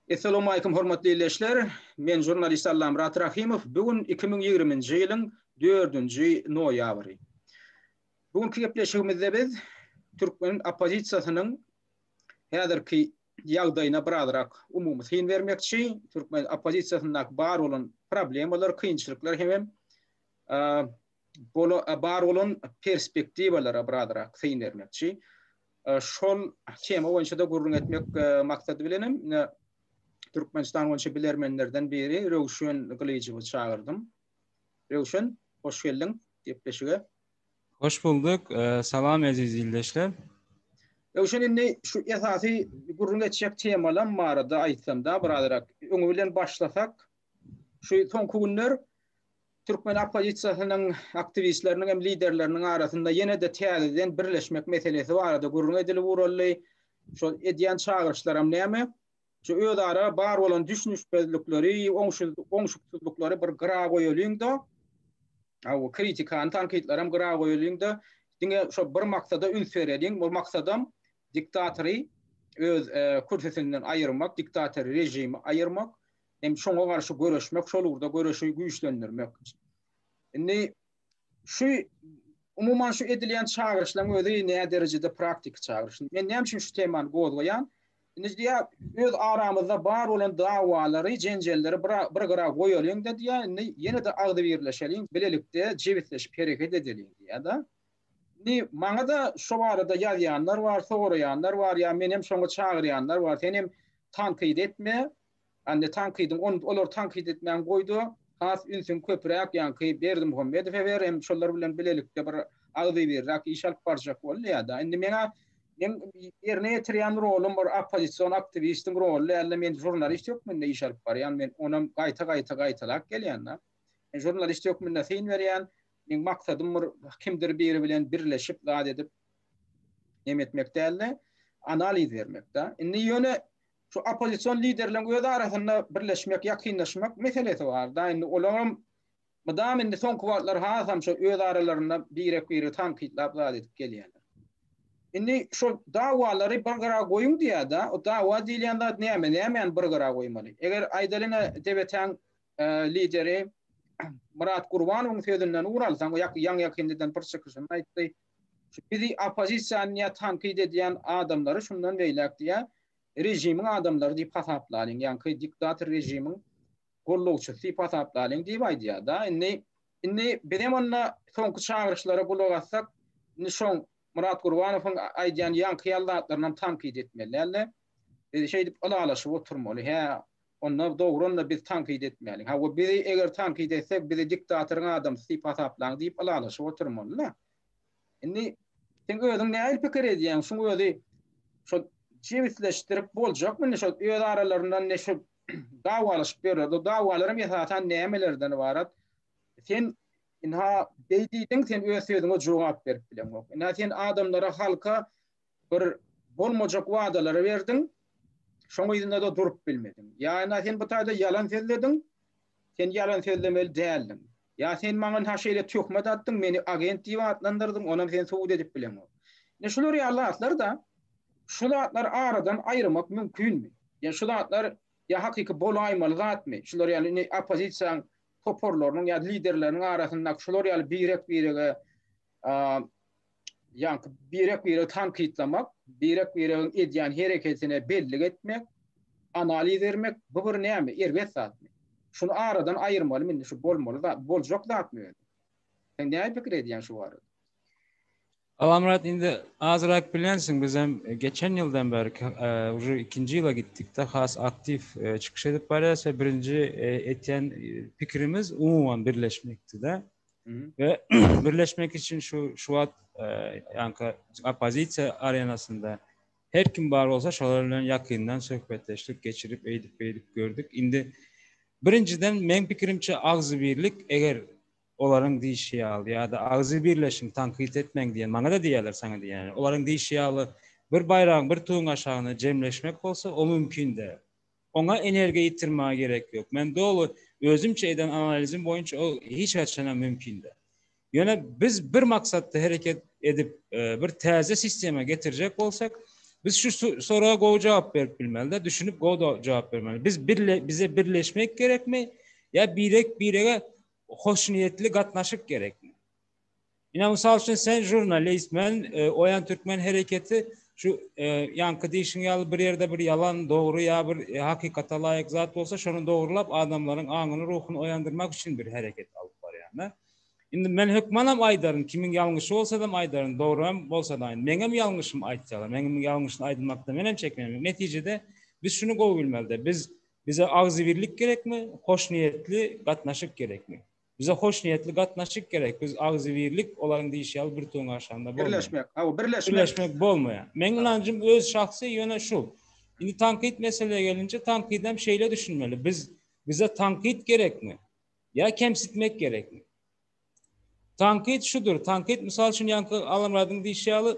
Essalawmalikum hormatly ildeşler, men žurnalist Allamyrat Rahymow, bu gün iki müň ýigriminji ýylyň dördünji noýabry. Bu günki gepleşigimizde biz türkmen oppozisiýasynyň häzirki ýagdaýyna birazrak umumy syn bermekçi, türkmen oppozisiýasyndaky bar bolan problemalar, kynçylyklar hemem bar bolan perspektiwalara birazrak syn bermekçi. Şol tema boýunça-da gürrüň etmek maksady bilenem Türkmenistan boýunça bilermenlerden biri Röwşen Gylyjowy çagyrdym. Röwşen, hoş geldiň gepleşige. Hoş bulduk. Salam eziz ildeşler. Röwşen indi şu esasy gürrüň etjek temalam barada aýtsamda birazrak öňi bilen başlasak, Şu soňky günler türkmen oppozisiýasynyň aktiwistleriniň hem liderleriniň arasynda ýene-de täzeden birleşmek meselesi barada gürrüň edilip uruldy. Şol edýän çagyryşlaram näme? Şu özara bar bolan düşünişmezlikleri, oňşuksyzlyklary bir gyra goýalyň-da, hawa, kritikany, tankytlaram gyra goýalyň-da, diňe şo bir maksada üns bereliň. Bu maksadam diktatory öz kürsüsinden aýyrmak, diktator režimi aýyrmak. hem şoňa garşy göreşmek, şol ugurda göreşi güýçlendirmek. Indi şu umuman şu edilýän çagyryşlaryň özi näderejede praktiki çagyryş. Men näme üçin şu temany gozgaýan? Indi diýä öz aramyzda bar bolan dawalary, jenjelleri bir bir gyra goýalyň da diýä, indi ýene-de agzy birleşeliň, bilelikde jebisleşip hereket edeliň diýä-de. Indi maňa-da şu barada ýazýanlar bar, soraýanlar bar, ýa meni hem şoňa çagyrýanlar bar. Sen hem tankyt etme, Anne tankydyň on olary tankyt etmäni goýda has ünsüň köpüräk ýaňky Berdimuhamedowe ber hem şolar bilen bilelikde bir agzybirräk iş alyp barjak bol ýada indi meň meň ýerine ýetirýän rolum bir oppozision aktiwistiň roly dälde men žurnalist hökmünde iş alyp barýan men onam gaýta gaýta gaýtalap gelýän da men žurnalist hökmünde syn berýän meň maksadym bir kimdir biri bilen birleşip zat edip nemetmek dälde analiz bermek da indi ýöne Şu oppozision liderleriň öz arasynda birleşmek, ýakynlaşmak meselesi barda indi olaram mydam indi soňky wagtlar hasam şu öz aralarynda birek-biregi tankytlap zat edip gelýärler. Indi şu dawalary bir gyra goýuň diýýärde, o dawa diýilýän zat näme, nämäni bir gyra goýmaly? Eger aýdalyňa DBT-iň lideri Myrat Gurbanowyň sözünden ugur alsaň, ýaňy-ýakyndadan bir çykyşynda aýtdy, Bizi oppozisiýany ýa tankyt edýän adamlary şundan beýläk diýýä režimiň adamlary diýip hasaplalyň, ýaňky diktator režimiň gollawçysy diýip hasaplalyň diýip aýdýa-da. Indi, indi bizem onda soňky çagyryşlara gulak assak, indi şoň Myrat Gurbanowyň aýdýan ýaňky ýaly zatlarynam tankyt etmeli däl-de. Biz şeýdip ylalaşyp oturmaly, hä, Onda dogran-da biz tankyt etmäliň. Hawa, bizi eger tankyt etsek, bizi diktatoryň adamsy diýip hasaplaň diýip ylalaşyp oturmaly-da. Indi sen özüň nähili pikir edýäň? Şuň özi şo jebisleşdirip boljakmy? Indi şo öz aralarynda indi şu dawalaşyp ýörler. Bu dawalaram esasan nämelerden ybarat? Sen ynha beý diýdiň, sen öz sözüňe jogap berip bileňok. Ynha sen adamlara, halka Bir bolmajak wadalary berdiň, şoň yzynda-da durup bilmediň. Ýa ene sen bu taýda ýalan sözlediň, sen ýalan sözlemeli däldiň. Ýa sen maňa ha şeýle töhmet atdyň, meni agent diýip atlandyrdyň, onam sen subut edip bileňok. Ine şular ýaly zatlar-da, şu zatlary aradan aýyrmak mümkinmi? Ýa şu zatlar ýa hakyky bolaýmaly zatmy? Şular ýaly indi oppozisiýaň toparlarynyň ýa liderleriniň arasyndaky şular ýaly birek-birege ýaňky birek-biregi tankytlamak, birek-biregiň edýän hereketine bellik etmek, analiz bermek, bu bir näme, erbet zatmy? Şuny aradan aýyrmalymy indi, şu bolmaly zat, boljak zatmy özi? Sen näme pikir edýän şu barada? Alamrat indi azrak bilensiň biz hem e, geçen ýyldan bäri e, uje ikinji ýyla gitdikde has aktiw e, çykyş edip barýas we birinji etýän pikirimiz umuman birleşmekdi-de. we birleşmek üçin şu şu wagt ýanka oppozisiýa arenasynda her kim bar bolsa şolar bilen ýakyndan söhbetdeşlik geçirip eýdip beýdip gördük. Indi birinjiden meň pikirimçe agzybirlik eger olaryň diýişi ýaly ýa-da agzy birleşiň tankyt etmäň diýen maňa da diýýärler saňa diýýärler. Olaryň diýişi ýaly bir baýragyň bir tuguň aşagynda jemleşmek bolsa o mümkin däl. Oňa energiýa ýitirmäge gerek ýok. Men doly özümçe eden analizim boýunça ol hiç haçanam mümkin däl. Ýöne biz bir maksatda hereket edip, bir täze sistema getirjek bolsak, biz şu soraga gowy jogap berip bilmeli-de, düşünip gowy jogap bermeli. Biz birle, bize birleşmek gerekmi ýa birek-birege hoşniýetli gatnaşyk gerekmi? Ine, mysal üçin, sen žurnalist, men Oýan türkmen hereketi, şu ýaňky diýşiň ýaly bir ýerde bir ýalan, dogry ýa bir hakykata laýyk zat bolsa, şony dogrulap, adamlaryň aňyny, ruhuny oýandyrmak üçin bir hereket alyp barýan-da. Indi men hökmanam aýdaryn, kimiň ýalňyşy bolsadam aýdaryn, dogryam bolsada, meňem ýalňyşymy aýtsalar, meňem ýalňyşyny aýdylmakdan menem çekinmeýän. Netijede, biz şuny gowy bilmeli-de, biz, bize agzybirlik gerekmi, hoşniýetli gatnaşyk gerekmi? Bize hoşniýetli gatnaşyk gerek, biz agzybirlik, olaryň diýşi ýaly birtüwüň aşagynda bolmaýar. Birleşmek, hawa, birleşmek. Birleşmek bolmaýar. Meň ynanjym öz şahsy ýöne şu. Indi tankyt meselä gelince tankydam şeýle düşünmeli, biz bize tankyt gerekmi? Ýa kemsitmek gerekmi? Tankyt şudur, tankyt mysal üçin ýaňky Allamyradyň diýşi ýaly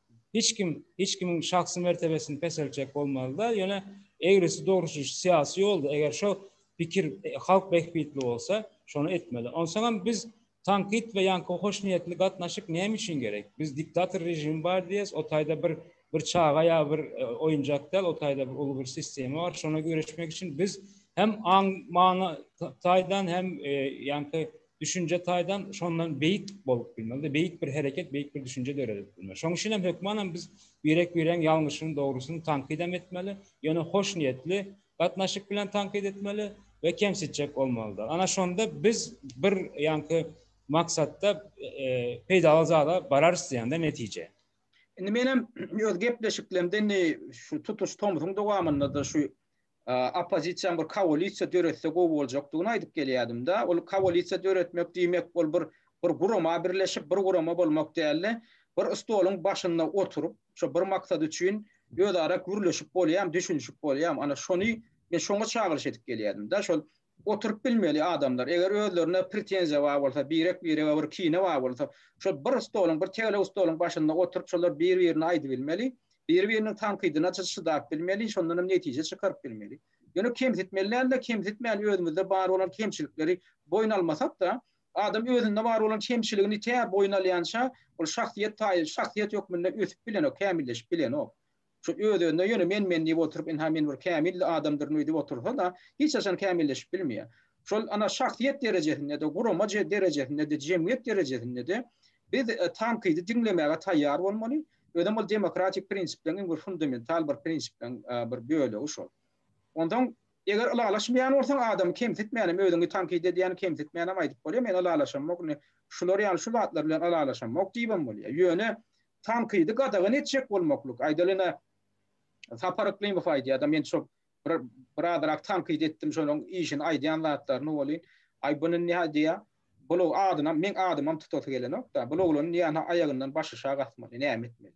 Hiç kim, hiç kimiň şahsy mertebesini peseltjek bolmazda, ýöne egrisi dogruçyl şu syýasy ýolda, eger şo pikir halk bähbitli bolsa, şony etmeli. Onsoňam biz tankyt we ýaňky hoşniýetli gatnaşyk näme üçin gerek? Biz diktator režimi bar diýýäs, o taýda bir bir çaga ýa bir oýunjak däl, o taýda bir uly bir sistema bar, şona göreşmek üçin biz hem aň-maňa taýdan hem ýaňky düşünje taýdan şondan beýik bolup bilmez. Beýik bir hereket, beýik bir düşünje döredip bilmez. Şonuň üçin hem hökmanam biz birek-biregiň ýalňyşyny, dogrusyny tankyt hem etmeli, ýöne hoşniýetli gatnaşyk bilen tankyt etmeli we kemsitjek bolmalydyr. Ana şonda biz bir ýaňky maksatda peýdaly zada bararys diýende netije. Indi men hem öz gepleşiklerimde indi şu tutuş tomsuň dowamynda-da şu oppozisiýaň bir koalisiýa döretse gowy boljakdygyny aýdyp gelýädim-de. Ol koalisiýa döretmek diýmek, ol bir bir gurama birleşip, bir gurama bolmak däl-de, bir stoluň başynda oturyp, şo bir maksat üçin özara gürleşip bolýamy, düşünişip bolýamy? Ana, şony men şoňa çagyryş edip gelýädim-de. Şol Oturyp bilmeli adamlar. Eger özlerine pretenziýa bar bolsa, birek-birege bir kine bar bolsa, şol bir stoluň, bir tegelek stoluň başynda oturyp şolar bir-birine aýdybilmeli, bir-biriniň tankydyna çydap bilmeli, şondan hem netije çykaryp bilmeli. Ýöne kemsitmeli däl-de, kemsitmän özümizde bar bolan kemçilikleri boýun almasak-da, adam özünde bar bolan kemçiligini tä boýun alýança ol şahsyýet taýy, şahsyýet hökmünde ösüp bilenok, kämilleşip bilenok. Şu öz-özüne ýöne men-men diýip oturyp, ynha men bir kämil adamdyryn öýdüp otursa-da, hiç haçan kämilleşip bilmeýär. Şol, ana, şahsyýet derejesinde-de, gurama derejesinde-de, jemgyýet derejesinde-de biz tankydy diňlemäge taýýar bolmaly. Özem ol demokratik prinsipleriň iň bir fundamental bir prinsipleriň bir bölegi şol. Onsoň, eger ylalaşmaýan bolsaň, adamy kemsitmän hem, özüňi tankyt edýäni kemsitmän hem aýdyp bolýar, men ylalaşamok, indi şular ýaly şu zatlar bilen ylalaşamok diýibem bolýar. Ýöne Tankydy gadagan etjek bolmaklyk. Aýdaly ine, Sapar Yklymow aýdýar-da, men şol bir bir azrak tankyt etdim şonuň işini aýdýan zatlaryny welin, aý bu indi nähä diýýä, bul adynam, meň adymam tutasy gelenok-da, bul oglany nähä aýagyndan başaşagy asmaly, näme etmeli?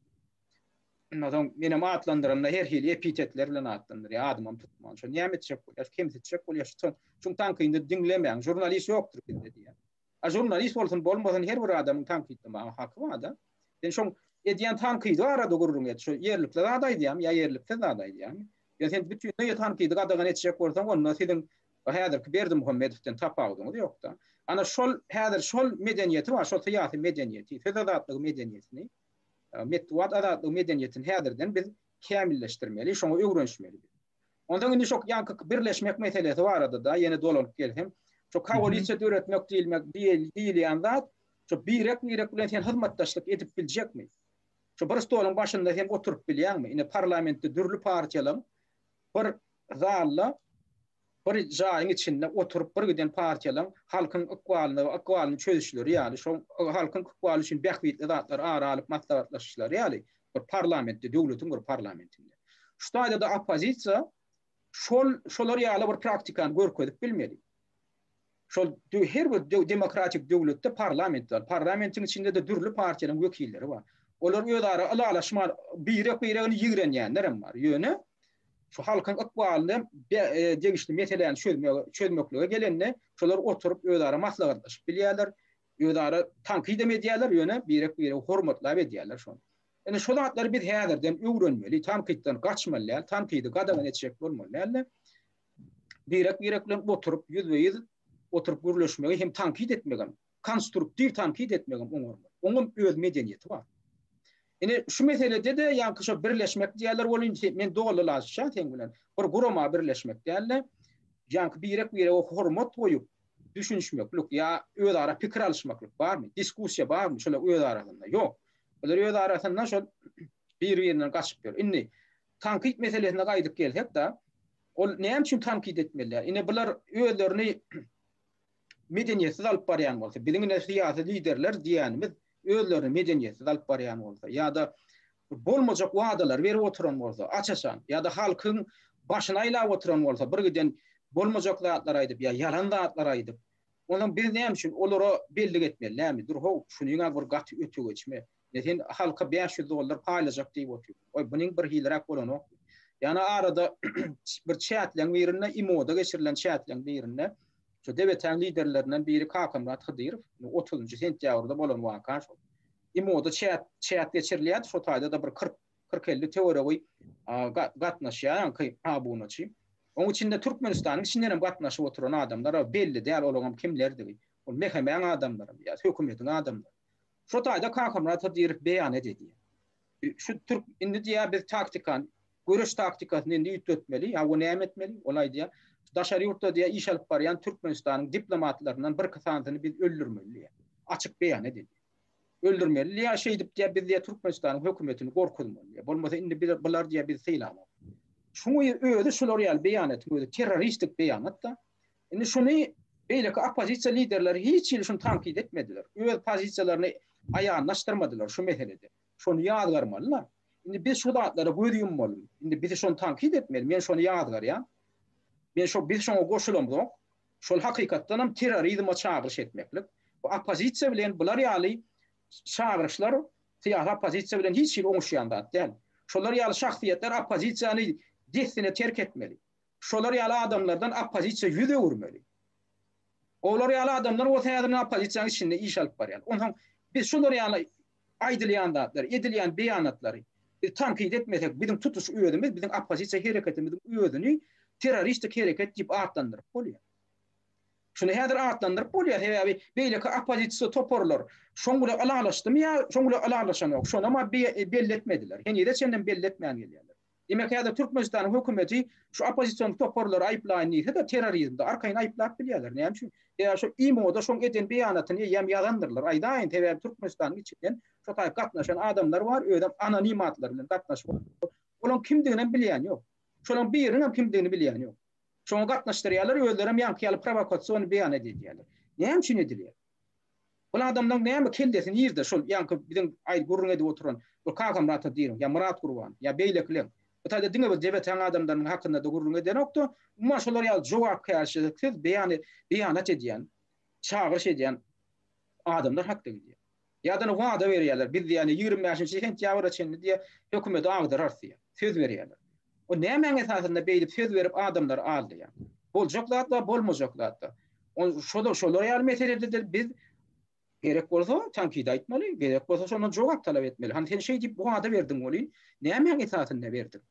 Ondan soň menem atlandyranda her hili epitetler bilen atlandyrýar, adymam tutman. Şony näme etjek bolýar, kemsitjek bolýar şu tankydy diňlemäň, žurnalist ýokdur bizde diýýär. A žurnalist bolsun bolmasyn her bir adamyň tankytlamaga haky barda. Sen şoň edýän tankydy barada gürrüň et. Şo ýerlikli zat aýdýamy ýa ýerliksiz zat aýdýamy? Ýa sen bütinleý tankydy gadagan etjek bolsaň onda siziň häzirki Berdimuhamedowden tapawudyňyz ýokda. Ana şol häzir şol medeniýeti bar şol syýasy medeniýeti söz azatlygy medeniýetini metbugat azatlygy medeniýetini häzirden biz kämilleşdirmeli şoňa öwrenişmeli. Onsoň indi şo ýaňky birleşmek meselesi barada-da ýene dolanyp gelsem, şo koalisiýa döretmek diýilmek diýilýän zat, şo birek-birek bilen sen hyzmatdaşlyk edip biljekmi? Şo bir stoluň başynda sen oturyp bilýäňmi? Ine, parlamentde dürli partiýalaryň bir zalda, bir jaýyň içinde oturyp birgiden partiýalaryň halkyň ykbalyna, ykbalyny çözüşleri ýaly, şo halkyň ykbaly üçin bähbitli zatlary ara alyp maslahatlaşyşlary ýaly, Bir parlamentde, döwletiň bir parlamentinde. Şu taýda-da oppozisiýa şol şolar ýaly bir praktikany görkezip bilmeli. Şol her bir demokratik döwletde parlament bar. Parlamentiň içinde-de dürli partiýalaryň wekilleri bar. Olar özara ylalaşma, birek-biregini ýigrenýänler hem bar. Ýöne şu halkyň ykbalyny e, degişli meseläni çözmeklige gelende, şolar oturyp özara maslahatlaşyp bilýärler. Özara tankyt-hem edýärler, ýöne birek-biregi hormatlap edýärler şony. Indi şu zatlary biz häzirden öwrenmeli, tankytdan gaçmaly däl, tankydy gadagan etjek bolmaly däl-de, birek-birek bilen oturyp, ýüzbe-ýüz oturyp gürleşmegi hem tankyt etmegem, konstruktiw tankyt etmegem oňarmaz. Oňam öz medeniýeti bar. Ine, şu meselede-de, ýaňky şo birleşmek diýýärler, ol indi men dolylaşýan seň bilen. Bir gurama birleşmek däl-de, ýaňky birek-birege hormat goýup, düşünişmeklik ýa özara pikir alyşmaklyk barmy? Diskussiýa barmy şolar öz arasynda? Ýok. Olar öz arasynda şol bir-birinden gaçyp ýör. Indi tankyt meselesine gaýdyp gelsek-de, ol näme üçin tankyt etmelidir? Ine bular özlerini medeniýetsiz alyp barýan bolsa, biziň ine syýasy liderler diýýänimiz özlerini medeniýetsiz alyp barýan bolsa ýa-da bolmajak wadalar berip oturan bolsa, aç-açan ýa-da halkyň başyny aýlap oturan bolsa, birgiden bolmajak zatlar aýdyp ýa ýalan zatlar aýdyp, onda biz näme üçin olara bellik etmeli näme? Dur how, şunyň-a bir gaty öte geçme. Ine sen halka bäş ýüz dollar paýlajak diýip otyrsyň. Oý, bunyň bir hiliräk bolanokmy? Ýa-da arada bir çätleň birinde, imo-da geçirilen çätleň birinde, Şu debetäň liderlerinden biri Kakamyrat Hydyrow, indi otuzynjy sentýabrda bolan waka şol. IMO-da çäk, çäk geçirilýärdi, şo taýda-da bir kyrk, kyrk-elli töweregi gatnaşýar, ýaňky abunaçy. Oň içinde Türkmenistanyň içinden hem gatnaşyp oturan adamlar bar, belli däl olaňam kimlerdigi. Ol mehemäň adamlarymy ýa hökümetiň adamlarymy. Şo taýda Kakamyrat Hydyrow beýan ededi. Şu türk, indi diýýär, biz taktikany Göreş taktikasyny indi üýtgetmeli, ýa o näme etmeli? Ol aýdýar, Daşary ýurtda diýýär, iş alyp barýan Türkmenistanyň diplomatlaryndan birki sanysyny biz öldürmeli diýýär. Açyk beýan edilýär. Öldürmeli diýýär, şeýdip diýýär, biz diýýär Türkmenistanyň hökümetini gorkuzmaly diýýär. Bolmasa indi biz bular diýýär bizi sylamaly. Şuňy özi şular ýaly beýanatyň özi terroristik beýanat-da. Indi şuny beýleki oppozisiýa liderleri hiç hili şuny tankyt etmediler. Öz pozisiýalaryny aýanlaşdyrmadylar şu meselede. Şony ýazgarmaly-la. Indi biz şu zatlara göz ýummaly. Indi bizi şony tankyt etmeli. Men şony ýazgarýan. Men şo biz şoňa goşulamzok. Şol hakykatdanam terrorizme çagyryş etmeklik. Bu oppozisiýa bilen bular ýaly çagyryşlar syýasy oppozisiýa bilen hiç hili oňuşýan zat däl. Şolar ýaly şahsyýetler oppozisiýany dessine terk etmeli. Şolar ýaly adamlardan oppozisiýa ýüz öwürmeli. Olar ýaly adamlar bolsa häzir oppozisiýanyň içinde iş alyp barýar. Onsoň biz şolar ýaly Aýdylýan zatlar, edilýän beýanatlary biz tankyt etmesek, biziň tutuş özümiz biziň oppozisiýa hereketimiziň özüni terroristik hereket diýip atlandyryp bolýar. Şuny häzir atlandyryp bolýar, sebäbi beýleki oppozisiýa toparlar şoň bile ylalaşdymy ýa şoň bile ylalaşanok, şonam-a belli etmediler. Henize çenlem belli etmän gelýärler. Diýmek, häzir Türkmenistanyň hökümeti şu oppozision toparlary aýyplaýyn diýse-de, terrorizmde arkaýyn aýyplap bilýärler. Näme üçin? Sebäbi şo IMO-da şoň eden beýanatyny eýýäm ýazandyrlar. Aýdaýyn, sebäbi Türkmenistanyň içinden şo taýy gatnaşan adamlar bar, özem anonim atlar bilen gatnaşyp otyrlar. Olaryň kimdiginem bilýän ýok. Şolaryň biriniňem kimdigini bilýän ýok. Şoňa gatnaşdyrýarlar, özlerem ýaňky ýaly prowokasion beýanat edýärler. Näme üçin edilýär? Ol adamlaň näme kellesi nirde şol ýaňky biziň aýdyp gürrüň edip oturan bir Kagamyrata diýiň ýa Myrat Gurban ýa beýlekileň bu taýda diňe bir Debetäň adamlarynyň hakynda-da gürrüň edenokda umuman şolar ýaly jogapkärçiliksiz beýan beýanat edýän çagyryş edýän adamlar hakda gidýär. Ýadany wada berýärler biz diýýär ýigrimi bäşinji sentýabra çenli diýýär hökümedi agdararys diýýär söz berýärler diýýär. O nämäň esasynda beýdip söz berip adamlary aldaýar? Boljak zat bar, bolmajak zat bar. O şoda şolar ýaly meselede-de biz gerek bolsa tankyt aýtmaly, gerek bolsa şondan jogap talap etmeli. Hany sen şeý diýip wada berdiň welin, nämäň esasynda berdiň?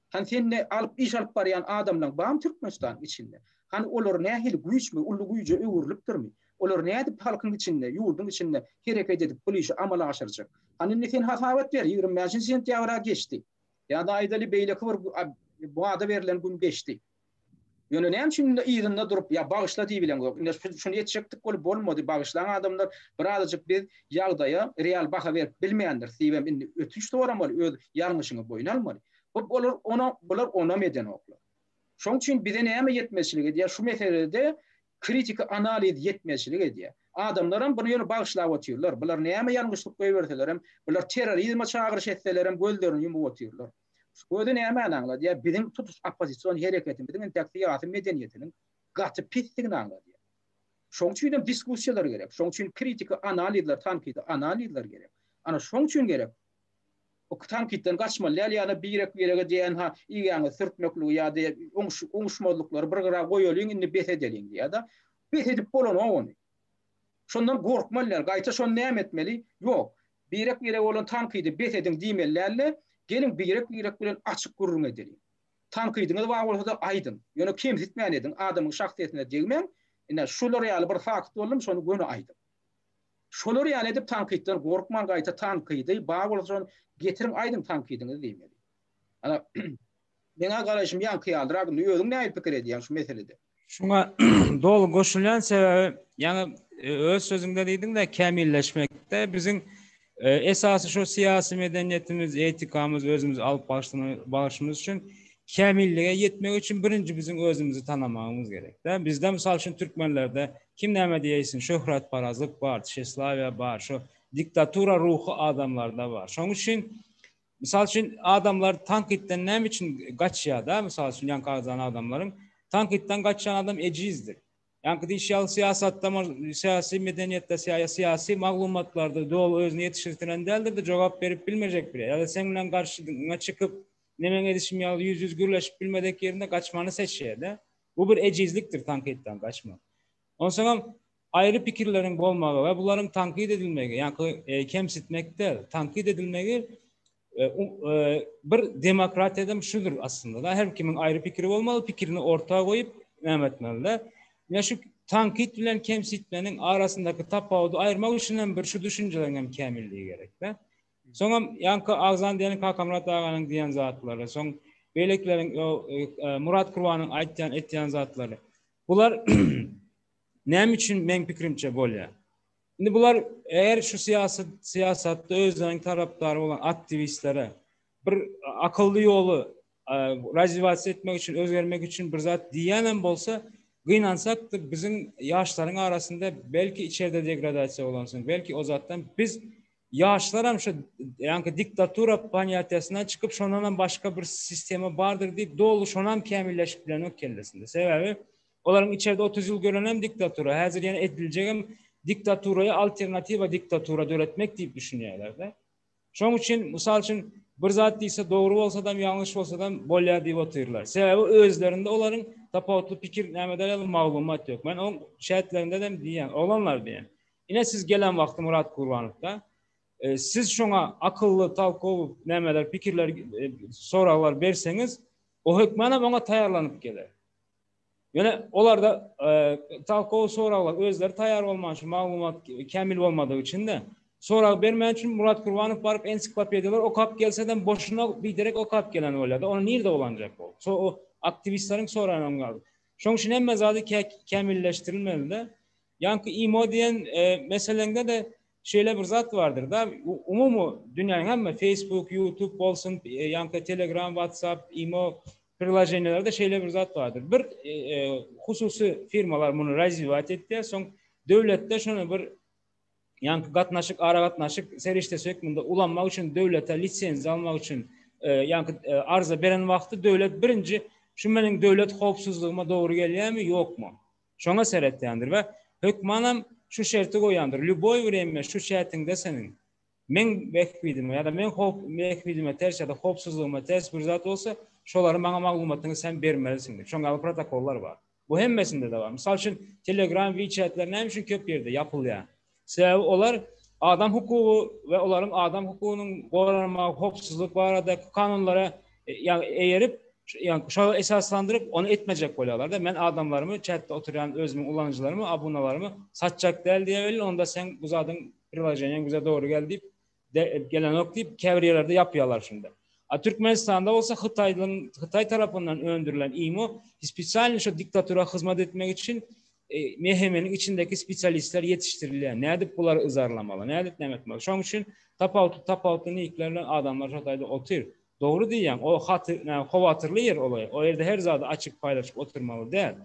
Hany sende alyp iş alyp barýan adamlaň barmy Türkmenistanyň içinde? Hany olar nähili güýçmi, uly güýje öwrülipdirmi? Olar nädip halkyň içinde, ýurduň içinde hereket edip, bu işi amala aşyrjak? Hany indi sen hasabat ber, ýigrimi bäşinji sentýabra geçdi. Ýa-da aýdaly beýleki bir wada berlen gün geçdi. Ýöne näme üçin indi yzynda durup, ýa bagyşla diýibileň ýok. Indi şuny etjekdik bolup bolmady, bagyşlaň adamlar, bir azajyk biz ýagdaýa real baha berip bilmändiris diýibem indi ötünç soramaly, öz ýalňyşyňy boýun almaly. Bu olar onam, bular onam edenoklar. Şoň üçin bize näme ýetmezçilik edýär, şu meselede Kritiki analiz ýetmezçilik edýär. Adamlaram buny ýöne bagyşlap otyrlar. Bular näme ýalňyşlyk goýberselerem, bular terrorizme çagyryş etselerem gözlerini ýumup otyrlar. Şu gözi nämäni aňladýar? Biziň tutuş oppozision hereketimiziň intäk syýasy medeniýetiniň gaty pisdigini aňladýar. Şoň üçinem diskussiýalar gerek. Şoň üçin kritiki analizler, tankydy analizler gerek. Ana şoň üçin gerek. Tankytdan gaçmaly däl ýa-da birek birege dnha igäňizi sürtmekligi ýa-da oňuşmazlyklary bir gyra goýalyň indi bes edeliň ýa-da bes edip bolanok ony. Şondan gorkmaly däl gaýta şony näme etmeli ýok birek birege bolan tankydy bes ediň diýmeli dälde geliň birek birek bilen açyk gürrüň edeliň. Tankydyňyz bar bolsada aýdyň ýöne kemsitmän ediň adamyň şahsyýetine degmäň ine şular ýaly bir fakt boldum şony göni aýdyň. Şolar ýaly edip tankytdan gorkman gaýta tankydy bar bolsa şony getiriň aýdyň tankydyňyzy diýmeli. Ana meň-ä garaýşym ýaňky ýalydyr agyndy özüň nähili pikir edýäň şu meselede? Şuňa doly goşulýan sebäbi ýaňy öz sözüňde diýdiňdä kämilleşmekde biziň Esasy şo syýasy medeniýetimiz, etikamyz, özümizi alyp barşymyz üçin kämillige ýetmek üçin birinji biziň özümizi tanamagymyz gerek-dä. Bizde mysal üçin türkmenlerde kim näme diýeýsin, şöhratparazlyk bar, tişeslawiýa bar, şo diktatura ruhy adamlarda bar. Şoň üçin mysal üçin adamlar tankytdan näme üçin gaçýar-da, mysal üçin ýaňky agzan adamlaryň tankytdan gaçýan adam ejizdir. Ýaňky diýiş ýaly syýasatda, syýasy medeniýetde, syýasy maglumatlarda doly özüni ýetişirtinen däldir-de, jogap berip bilmejek bile. Ýa-da seň bilen garşyňa çykyp, neneň edişim ýaly ýüz-ýüz gürleşip bilmedek ýerinde gaçmany seçýär-de. Bu bir ejizlikdir tankytdan gaçmak. Onsoňam aýry pikirleriň bolmagy we bularyň tankyt edilmegi, ýaňky kemsitmek däl, tankyt edilmegi Bir demokratiýadam şudur aslynda-da, her kimiň aýry pikiri bolmaly, pikirini orta goýup, näme etmeli-de. Ýa şu tankyt bilen kemsitmeniň arasyndaky tapawudy aýyrmak üçin hem bir şu düşünjeleriň hem kämilligi gerek-de. Soňam ýaňky agzan diýen Kakamyrat aganyň diýen zatlary, soň beýlekileriň Murat Kurbanyň aýtýan etýän zatlary. Bular näme üçin meň pikirimçe bolýar? Indi bular eger şu syýasy syýasatda özleriniň tarapdary bolan aktiwistlere bir akylly ýoly razivasiýa etmek üçin, özgermek üçin bir zat diýýän hem bolsa, gynansak da biziň ýaşlaryň arasynda belki içerde degradasiýa bolansoň, belki o zatdan biz ýaşlar hem şu ýa-da diktatura panýatiýasyndan çykyp, şondan hem başga bir sistema bardyr diýip, doly şonam kämilleşip bilenok kellesinde. Sebäbi Olaryň içerde otuz ýyl görenem diktatura, häzir ýene ediljegem diktaturaýa alternatiwa diktatura döretmek diýip düşünýärlerde. Şoň üçin mysal üçin bir zat diýse dogry bolsadam ýalňyş bolsadam bolýar diýip otyrlar. Sebäbi özlerinde olaryň tapawutly pikir nämede ýaly maglumat ýok. Men oň şähetlerindedem diýýän, oglanlar diýýän. Ine siz gelen wagty Murat Gurbanowda siz şoňa akylly talkowy nämeler pikirler soraglar berseňiz o hökmanam oňa taýýarlanyp geler. Ýöne olarda talkow soraglar özleri taýýar bolman şu maglumat kämil bolmadygy üçin-de, sorag bermän üçin Murat Kurbanow baryp ensiklopediýalar okap gelsem boşuna biderek okap gelen bolýar-da, ony nirde ulanjak ol? Şo o aktiwistleriň soraýanam gal. Şoň üçin hemme zady kämilleşdirilmeli-de. Ýaňky imo diýen meseleňde-de şeýle bir zat bardyr-da, umumy dünýäniň hemme Facebook, YouTube bolsun, ýaňky Telegram, WhatsApp, imo Priloženiýalarda şeýle bir zat bardyr. Bir hususy firmalar muny razwiýat etýär, soň döwletde şony bir ýaňky gatnaşyk, aragatnaşyk serişdesi hökmünde ulanmak üçin döwlete lisenziýa almak üçin ýaňky arza beren wagty döwlet birinji şu meniň döwlet howpsuzlygyma dogry gelýärmi, ýokmy? Şoňa seretýändir we hökmanam şu şerti goýandyr, lýuboý wremýa şu çätiňde seniň Meň bähbidime ýa-da meň howp bähbidime ters ýa-da howpsuzlygyma ters bir zat bolsa, şolary maňa maglumatyňy sen bermelisiň diýip, şoň ýaly protokollar bar. Bu hemmesinde-de bar. Mysal üçin, Telegram, WeChat-ler näme üçin köp ýerde ýapylýar? Sebäbi olar adam hukugy we olaryň adam hukugynyň goralmagy, howpsuzlyk baradaky kanunlara eýerip, ýagny şolara esaslandyryp, ony etmejek bolýarlar-da. Men adamlarymy, chatda oturýan özümiň ulanyjylarymy, abunalarymy satjak däl diýäweli, onda sen bu zadyň Priloženiýaň bize dogry gel diýip, gelenok diýip, käbir ýerlerde ýapýarlar şunda. A Türkmenistanda bolsa Hytaýdan, Hytaý tarapyndan öndürilen imo spesialny şo diktatura hyzmat etmek üçin MHM-niň e, içindäki spesialistler ýetişdirilýär. Nädip bulary yzarlamaly, nädip näme etmeli? Şoň üçin tapawutly tapawutly nikler bilen adamlar şo taýda otyr. Dogry diýýäň, o haty, näme howatyrly ýer olay. O ýerde her zady açyp paýlaşyp oturmaly däl.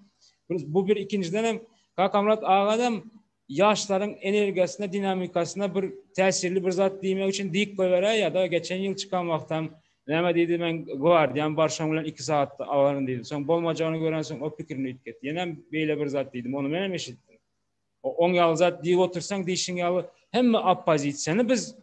Bu bir ikinjiden hem Kakamyrat agadam Ýaşlaryň energiýasyna, dinamikasyna bir täsirli bir zat diýmek üçin diýip goýberäý ýa-da geçen ýyl çykan wagtam näme diýdi men gwardiýam bar şoň bilen iki sagatda alaryn diýdi. Soň bolmajagyny görensoň o pikirini üýtget. Ýenem beýle bir zat diýdim. Ony menem eşitdim. Oň ýaly zat diýip otursaň diýşiň ýaly hemme oppozisiýany biz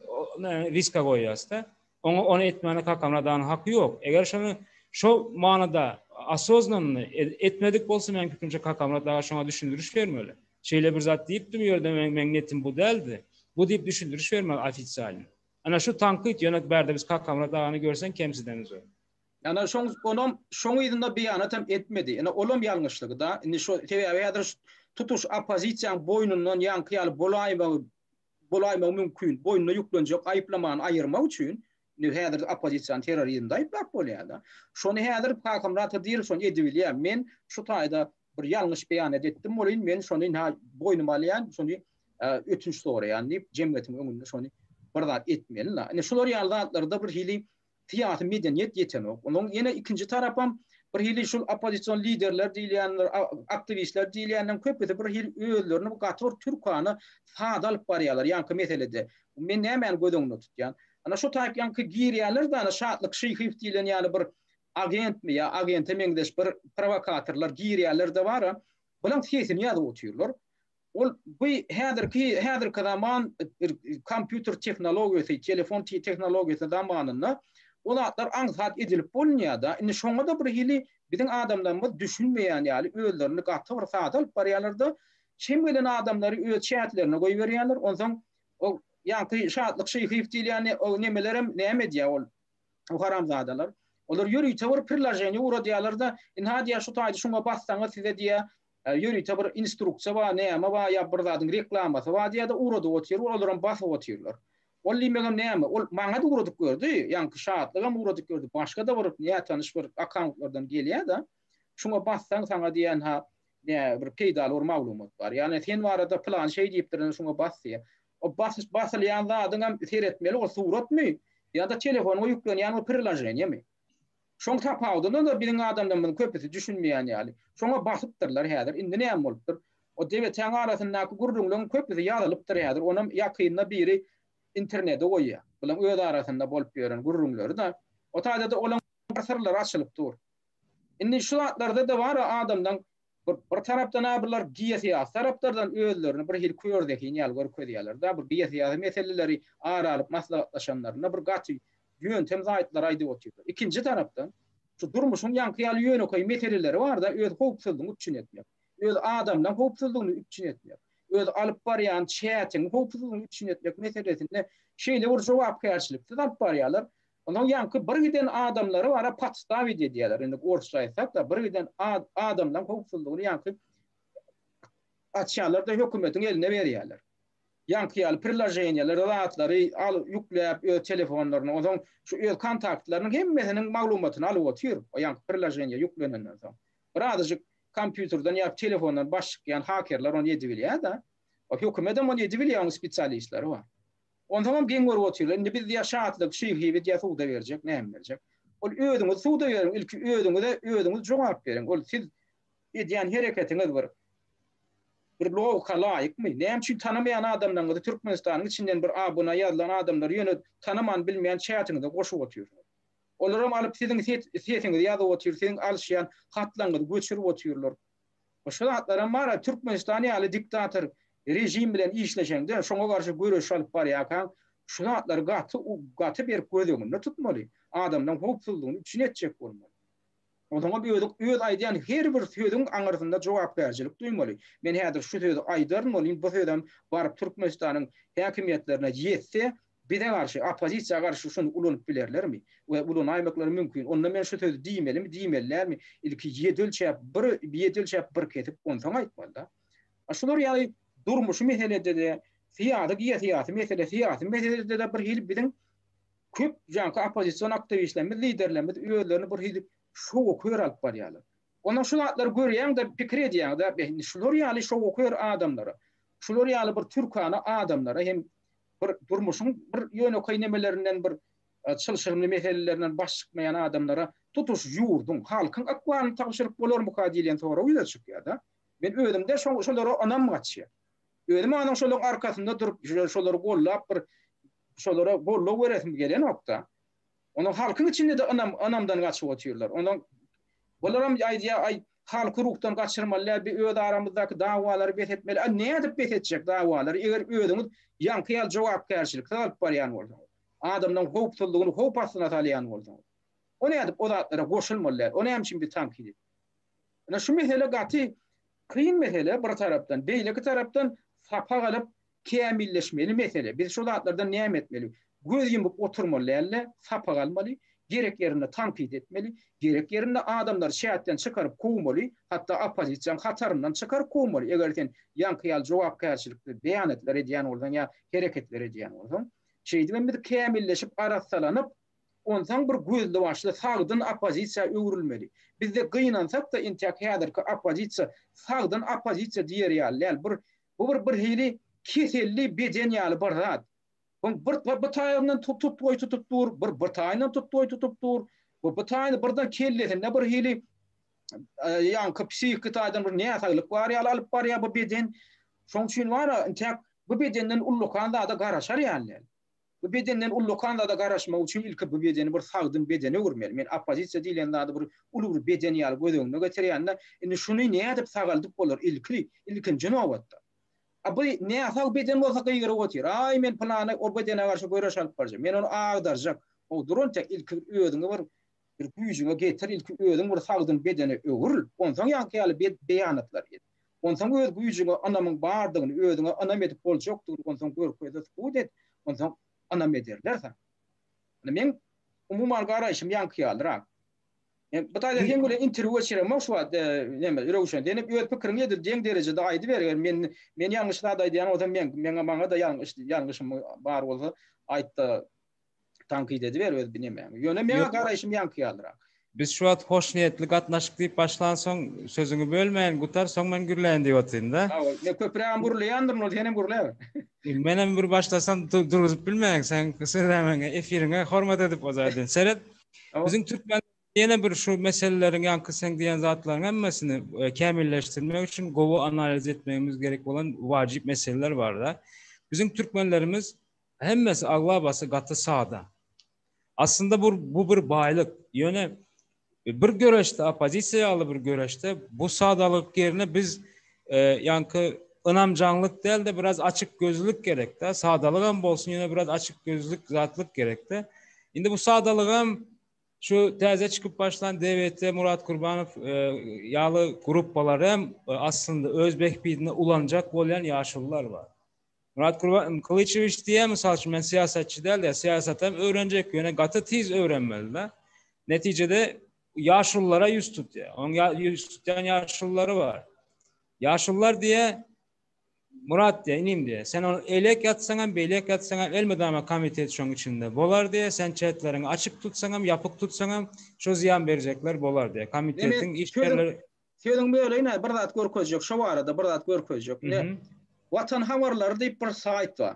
riska goýýasda. Oňa ony etmäne kakamradanyň haky ýok. Eger şony şo manyda osoznan etmedik bolsa meň pikirimçe kakamrat aga şoňa düşündiriş bermeli. Şeýle bir zat diýipdim u ýerde men meň netim bu däldi. Bu diýip düşündiriş bermeli ofisialny. Ana şu tankyt ýöne bärde biz Kakamyrat agany görseň kemsidenizok. Ýana şoň onam şoň yzynda beýanat hem etmedi. Ine olam ýalňyşlygy da. Indi şu sebäbi häzir tutuş oppozisiýaň boýnundan ýaňky ýaly bolaýmagy bolaýmagy mümkin. Boýnuna ýüklenjek aýyplamany aýyrmak üçin indi häzir oppozisiýany terrorizmde aýyplap bolýar da. Şony häzir Kakamyrat Hydyrow şony edibilýär. Men şu taýda bir ýalňyş beýanat etdim welin men şony nä boýnuma alýan şony ötünç soraýan diýip jemgyýetiň öňünde şony bir zat etmeli la ine şular ýaly zatlarda bir hili syýasy medeniýet ýetenok onuň ýene ikinji tarapam bir hili şul oppozision liderler diýilýänler aktiwistler diýilýänleriň köpüsi bir hili özlerini bu gaty bir türkana sada alyp barýarlar ýaňky meselede men nämäni göz öňünde tutýan ana şu taýpýaňky girýärler dana şatlyk şyhyýew diýilen ýaly bir agentmi ýa agente meňzeş bir prowokatorlar girýärler-de bara, bulaň sesini ýazyp otyrlar. Ol bu häzirki häzirki zaman bir kompýuter tehnologiýasy, telefon tehnologiýasy zamanynda bu zatlar aňsat edilip bolunýar-da. Indi şoňa-da bir hili biziň adamlarymyz düşünmeýän ýaly özlerini gaty bir sada alyp barýarlar-da, çem gelen adamlary öz çäklerine goýberýärler. Onsoň o ýaňky Şatlyk Şyhyýew diýilýän o nemelerem näme edýär ol? O haramzadalar. Olar ýörite bir priloženiýe uradýarlar-da, Ynha diýýär, şu taýdy şuňa bassaňyz size diýýär, ýörite bir instruksiýa bar, näme bar ýa bir zadyň reklamasy bar diýýär-de, uradyp otyr, olaram basyp otyrlar. Ol diýmegem näme? Ol maňa-da uradyp gördi, ýaňky Şatlygam uradyp gördi, başga-da bir nätanyş bir akkauntlardan gelýär-de. Şuňa bassaň saňa diýýän ha ne bir peýdaly bir maglumat bar. Ýagny sen barada pylan şeý diýipdir indi şuňa bas diýýär. O basyş basylýan zadyň hem seretmeli ol suratmy ýa-da telefonyňa ýüklenýän bir priloženiýemi. Şoň tapawudyna da biziň adamlarymyzyň köpüsi düşünmeýän ýaly. Şoňa basypdyrlar häzir. Indi näme bolupdyr? O debetäň arasyndaky gürrüňleriň köpüsi ýazylypdyr häzir. Onam ýakynda biri internede goýýar. Bulaň öz arasynda bolup ýören gürrüňleri-de. O taýda-da olaň bir syrlary açylyp dur. Indi şu zatlarda-da bar adamlaň bir tarapdan-a bular geosyýasy taraplardan özlerini bir hili kör zehin ýaly görkezýärler-de, bu geosyýasy meseleleri ara alyp maslahatlaşanlarynda bir gaty ýöntem zaýytlary aýdyp otyrlar. Ikinji tarapdan, şu durmuşyň ýaňky ýaly ýönekeý meseleleri bar-da, öz howpsuzlygyňy üpjün etmek, öz adamlaň howpsuzlygyny üpjün etmek, öz alyp barýan çätiň howpsuzlygyny üpjün etmek meselesinde şeýle bir jogapkärçiliksiz alyp barýarlar, Onuň ýaňky bir giden adamlary bara podstawić edýärler. Indi orsça aýtsak-da, bir giden adamlaryň howpsuzlygyny ýaňky açýarlar-da, hökümetiň eline berýärler. Ýaňky ýaly priloženiýeleri, zatlary alyp ýükläp öz telefonlaryna, onsoň şu öz kontaktlarynyň hemmesiniň maglumatyny alyp otyr, o ýaňky priloženiýe ýüklenenden soň. Birazajyk kompýuterden ýa telefondan baş çykýan hakerler ony edibilýär-de. Hökümet hem ony edibilýär, onuň spesialistleri bar. Onsoňam geň görüp otyrlar, indi biz diýýär Şatlyk şyhyby diýýär suwda berjek, näme berjek. Ol özüňiz suwda beriň, ilki özüňize özüňiz jogap beriň. Ol siz edýän hereketiňiz bir bir logika laýykmy? Näme üçin tanamaýan adamlaryňyzy Türkmenistanyň içinden bir abuna ýazylan adamlary ýöne tanaman bilmeýän çätiňize goşup otyrsyňyz. Olaram alyp siziň sesiňizi ýazyp otyr, siziň alyşýan hatlaryňyzy göçürip otyrlar. Başga zatlaram bar-a, Türkmenistan ýaly diktator režim bilen işleşeňde, şoňa garşy göreş alyp barýarkaň, şu zatlary gaty, gaty berk göz öňünde tutmaly, adamlaryň howpsuzlygyny üpjün etjek bolmaly. Onuňam özi öz aýdýan her bir sözüň aňyrsynda jogapkärçilik duýmaly. Men häzir şu sözi aýdaryn welin, bu sözem baryp Türkmenistanyň häkimiýetlerine ýetse, Bize garşy, oppozisiýa garşy şony ulanyp bilerlermi? We ulanaýmaklary mümkin. Onda men şu sözi diýmelimi, diýmeli dälmi? Ilki ýedi ölçäp, bir, ýedi ölçäp, bir kesip, onsoň aýtmaly-da. A şular ýaly durmuşy meselede-de, syýasy, geosyýasy mesele, syýasy meselede-de birhili biziň köp janky oppozision aktiwistlerimiz, liderlerimiz özlerini birhili şowakör alyp barýarlar. Onda şu zatlary görýäň-de, pikir edýäň-de, indi şular ýaly şowakör adamlara, şular ýaly bir türkana adamlara hem Bir durmuşyň bir ýönekeý nemelerinden bir çylşyrymly meselelerinden baş çykmaýan adamlara tutuş ýurduň, halkyň ykbalyny tabşyryp bolarmyka diýlen sorag ýüze çykýar-da. Men özümde şolara ynam gaçýar. Özüm anyň şolaryň arkasynda durup, şolary gollap bir şolara goldaw beresim gelenok-da. Onuň halkyň içinde-de ynam, ynamdan gaçyp otyrlar. Onuň bularam aýdýar, aý, Halky ruhdan gaçyrmaly däl bi öz aramyzdaky dawalary bes etmeli a nädip bes etjek dawalary eger özüňiz ýaňky ýaly jogapkärçiliksiz alyp barýan bolsaňyz adamlaň howpsuzlygyny howp astyna salýan bolsaňyz o nädip o zatlara goşulmaly däl o näme üçin bi tankid et ine şu mesele gaty kyn mesele bir tarapdan beýleki tarapdan sapak alyp kämilleşmeli mesele. Biz şu zatlardan näme etmeli? Göz ýumup oturmaly däl-de, sapak almaly, gerek ýerinde tankyt etmeli, gerek ýerinde adamlary çäkden çykaryp kowmaly, hatda oppozisiýaň hataryndan çykaryp kowmaly, eger sen ýaňky ýaly jogapkärçilikli beýanatlar edýän bolsaň ýa hereketler edýän bolsaň. Şeýdibem biz kämilleşip, arassalanyp, onsoň bir gözli-başly sagdyn oppozisiýa öwrülmeli. Bizde gynansak-da, entäk häzirki oppozisiýa sagdyn oppozisiýa diýer ýaly däl, bir Bu bir birhili keselli beden ýaly bir zat. Oň bir bir taýagyndan tutupgoý tutup dur, bir bir taýyndan tutupgoý tutup dur. Bu bir taýyny birden kellesinde birhili ýaňky psihiki taýdan bir näsaglyk bar ýaly alyp barýar bu beden. Şoň üçin bar-a, intäk bu bedenden ullakan zada garaşar ýaly däl. Bu bedenden ullakan zada garaşmak üçin ilki bu bedeni bir sagdyn bedene öwürmeli. Men oppozisiýa diýlen zady bir uly bir beden ýaly göz öňüne getirýän-de, indi şuny nädip sagaldyp bolar ilki, ilkinji nobatda. A bu näsag beden bolsa gygyryp otyr, Aý, men pylany o bedene garşy göreş alyp barjak, men ony agdarjak. Howduran tä ilki bir özüňi bir Bir güýjüňe getir, ilki özüň bir sagdyn bedene öwrül, onsoň ýaňky ýaly beýanatlar et. Onsoň öz güýjüňe ynamyň bardygyny, özüňe ynam edip boljakdygyny onsoň görkez-de subut et, onsoň ynam ederler saňa. Indi meň umuman garaýşym ýaňky ýalyrak. Men bu taýda seň bilen interwýu geçiremok şu wagt, näme, Röwşen, sen hem öz pikiriňi edil deň derejede aýdyber, eger men men ýalňyş zat aýdýan bolsam, meň meňe maňa-da ýalňyş ýalňyşym bar bolsa aýt-da, tankyt ediber öz bilemäňi. Ýöne meň garaýşym ýaňky ýalyrak. Biz şu wagt hoşniýetli gatnaşyk diýip başlansoň, sözüňi bölmäýin, gutar, soň men gürläýin diýip otyryn-da. Hawa, men köpürägem gürleýändirin, ol senem gürläber. Menem bir başlasam durguzyp bilmäýin, sen sözä meňe, efiriňe hormat edip o zaýdan. Seret, biziň türkmen ýene bir şu meseleleriň ýaňky seň diýen zatlaryň hemmesini kämilleşdirmek üçin gowy analiz etmegimiz gerek bolan wajyp meseleler bar-da. Biziň türkmenlerimiz Hemmesi, aglabasy gaty sada. Aslynda bu bu bir baýlyk. Ýöne bir göreşde, oppozisiýa ýaly bir göreşde bu sadalyk ýerine biz ýaňky ynamjaňlyk däl-de biraz açykgözlülik gerek-de, sadalygam bolsun ýöne biraz açykgözlülik zatlyk gerek-de. Indi bu sadalygam şu täze çykyp başlan DWT, Murat Kurbanow ýaly gruppalar hem aslynda öz behbidine ulanjak bolýan ýaşulular bar. Murat Gurban Kylyçewiç diýýär, mysal üçin, men syýasatçy däl diýýär, syýasatam öwrenjek, ýöne gaty tiz öwrenmeli-de. Netijede ýaşululara ýüz tutýar. Onuň ýüz tutýan ýaşululary bar. Ýaşulular diýýär, Murat diýýär, inim diýýär, sen ol eýlek ýatsaň hem, beýlek ýatsaň hem elmydama komitet şoň içinde bolar diýýär, sen çetleriňi açyk tutsaň hem, ýapyk tutsaň hem, şo zyýan berjekler bolar diýýär. Kommitetiň işgärleri Sözüň böleyine bir zat görkezjek şo barada bir zat görkezjek. Ne? Watan habarlary diýip bir saýt bar.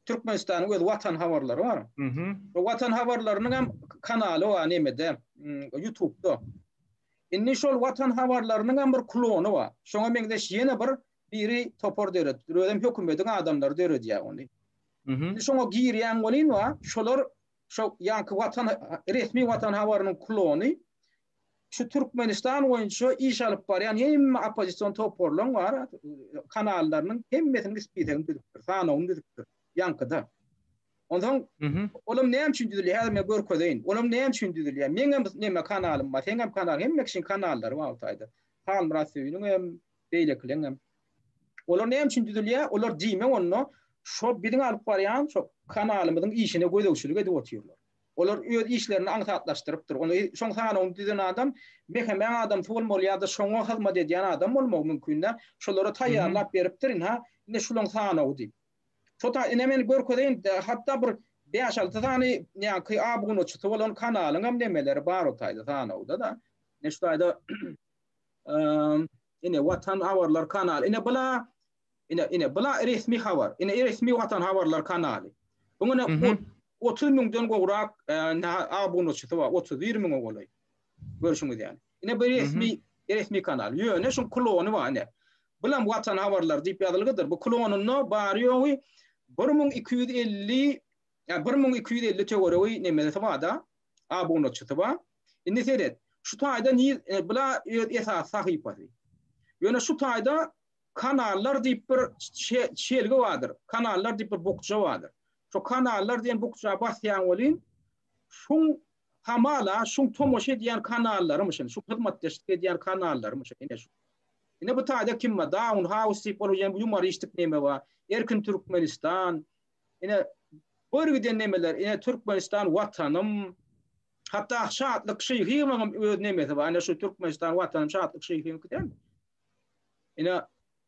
Türkmenistanyň öz watan habarlary bar. Mhm. Bu watan habarlarynyň hem kanaly bar nemede, mm, YouTube'da. Indi şol watan habarlarynyň hem bir klony bar. Şoňa meňzeş ýene bir biri topar döredipdir. Özem hökümetiň adamlary döredýär ony. Mhm. Şoňa girýän welin bar, şolar Şo ýanky watan resmi watan habarynyň klony şu Türkmenistan boýunça iş alyp barýan hemme oppozision toparlaryň bar kanallarynyň hemmesini spisegini düzüpdir, sanawyny düzüpdir. Ýankyda. Ondan olam näme üçin düzülýär? Häzir men görkezeýin. Olam näme üçin düzülýär? Meň hem näme kanalym bar, seň hem kanal, hemme kişiň kanallary bar bu taýda. Halmyrat Söýüniň hem, beýlekileň hem. Olar näme üçin düzülýär? Olar diýme onda şo biziň alyp barýan şo kanalymyzyň işine gözegçilik edip otyrlar. Olar öz işlerini aňsatlaşdyrypdyr. Onda şoň sanawyny düzen adam mehemäň adamsy bolmaly ýa-da şoňa hyzmat edýän adam bolmagy mümkin däl. Şolara taýýarlap beripdir indi ha, ine şulaň sanawy diýip. Şo ta ine men görkezeýin hatda bir bäş-alty sany näki abunaçysy bolan kanalyňam nemeleri bar o taýda sanawda-da. Ine şu taýda Ine watan habarlar kanaly. Ine bula ine ine bula resmi habar. Ine resmi watan habarlar kanaly. Buň ine 30 müňden gowrak abunaçysy bar. 31 müňe golaý. Görşüňiz ýaly. Ine bu resmi resmi kanal. Ýöne şu klony bar ine. Bulam watan habarlar diýip ýazylgydyr. Bu klonunda bary ýogy 1250 ýa 1250 töweregi nemesi barda. abunaçysy bar. Indi seret, şu taýda niz e, bula öz esasy sahypasy. Ýöne şu taýda kanallar diýip bir şelgi bardyr. Kanallar diýip bir bukja bardyr. Şu kanallar diýen bukja basýan welin şuň hamala şuň tomaşa edýän kanallarymyşyn, şu hyzmatdaşlyk edýän kanallarymyşyn ine şu. Ine bu taýda kim bar? Daun House diýip ol ýumoristlik neme bar? Erkin Türkmenistan, Ine, bor giden nemeler, ine, Türkmenistan Watanym, hatda Şatlyk Şyhyýewiňem öz nemesi bar, ine, şu Türkmenistan Watanym, Şatlyk Şyhyýewiňki däl. Ine,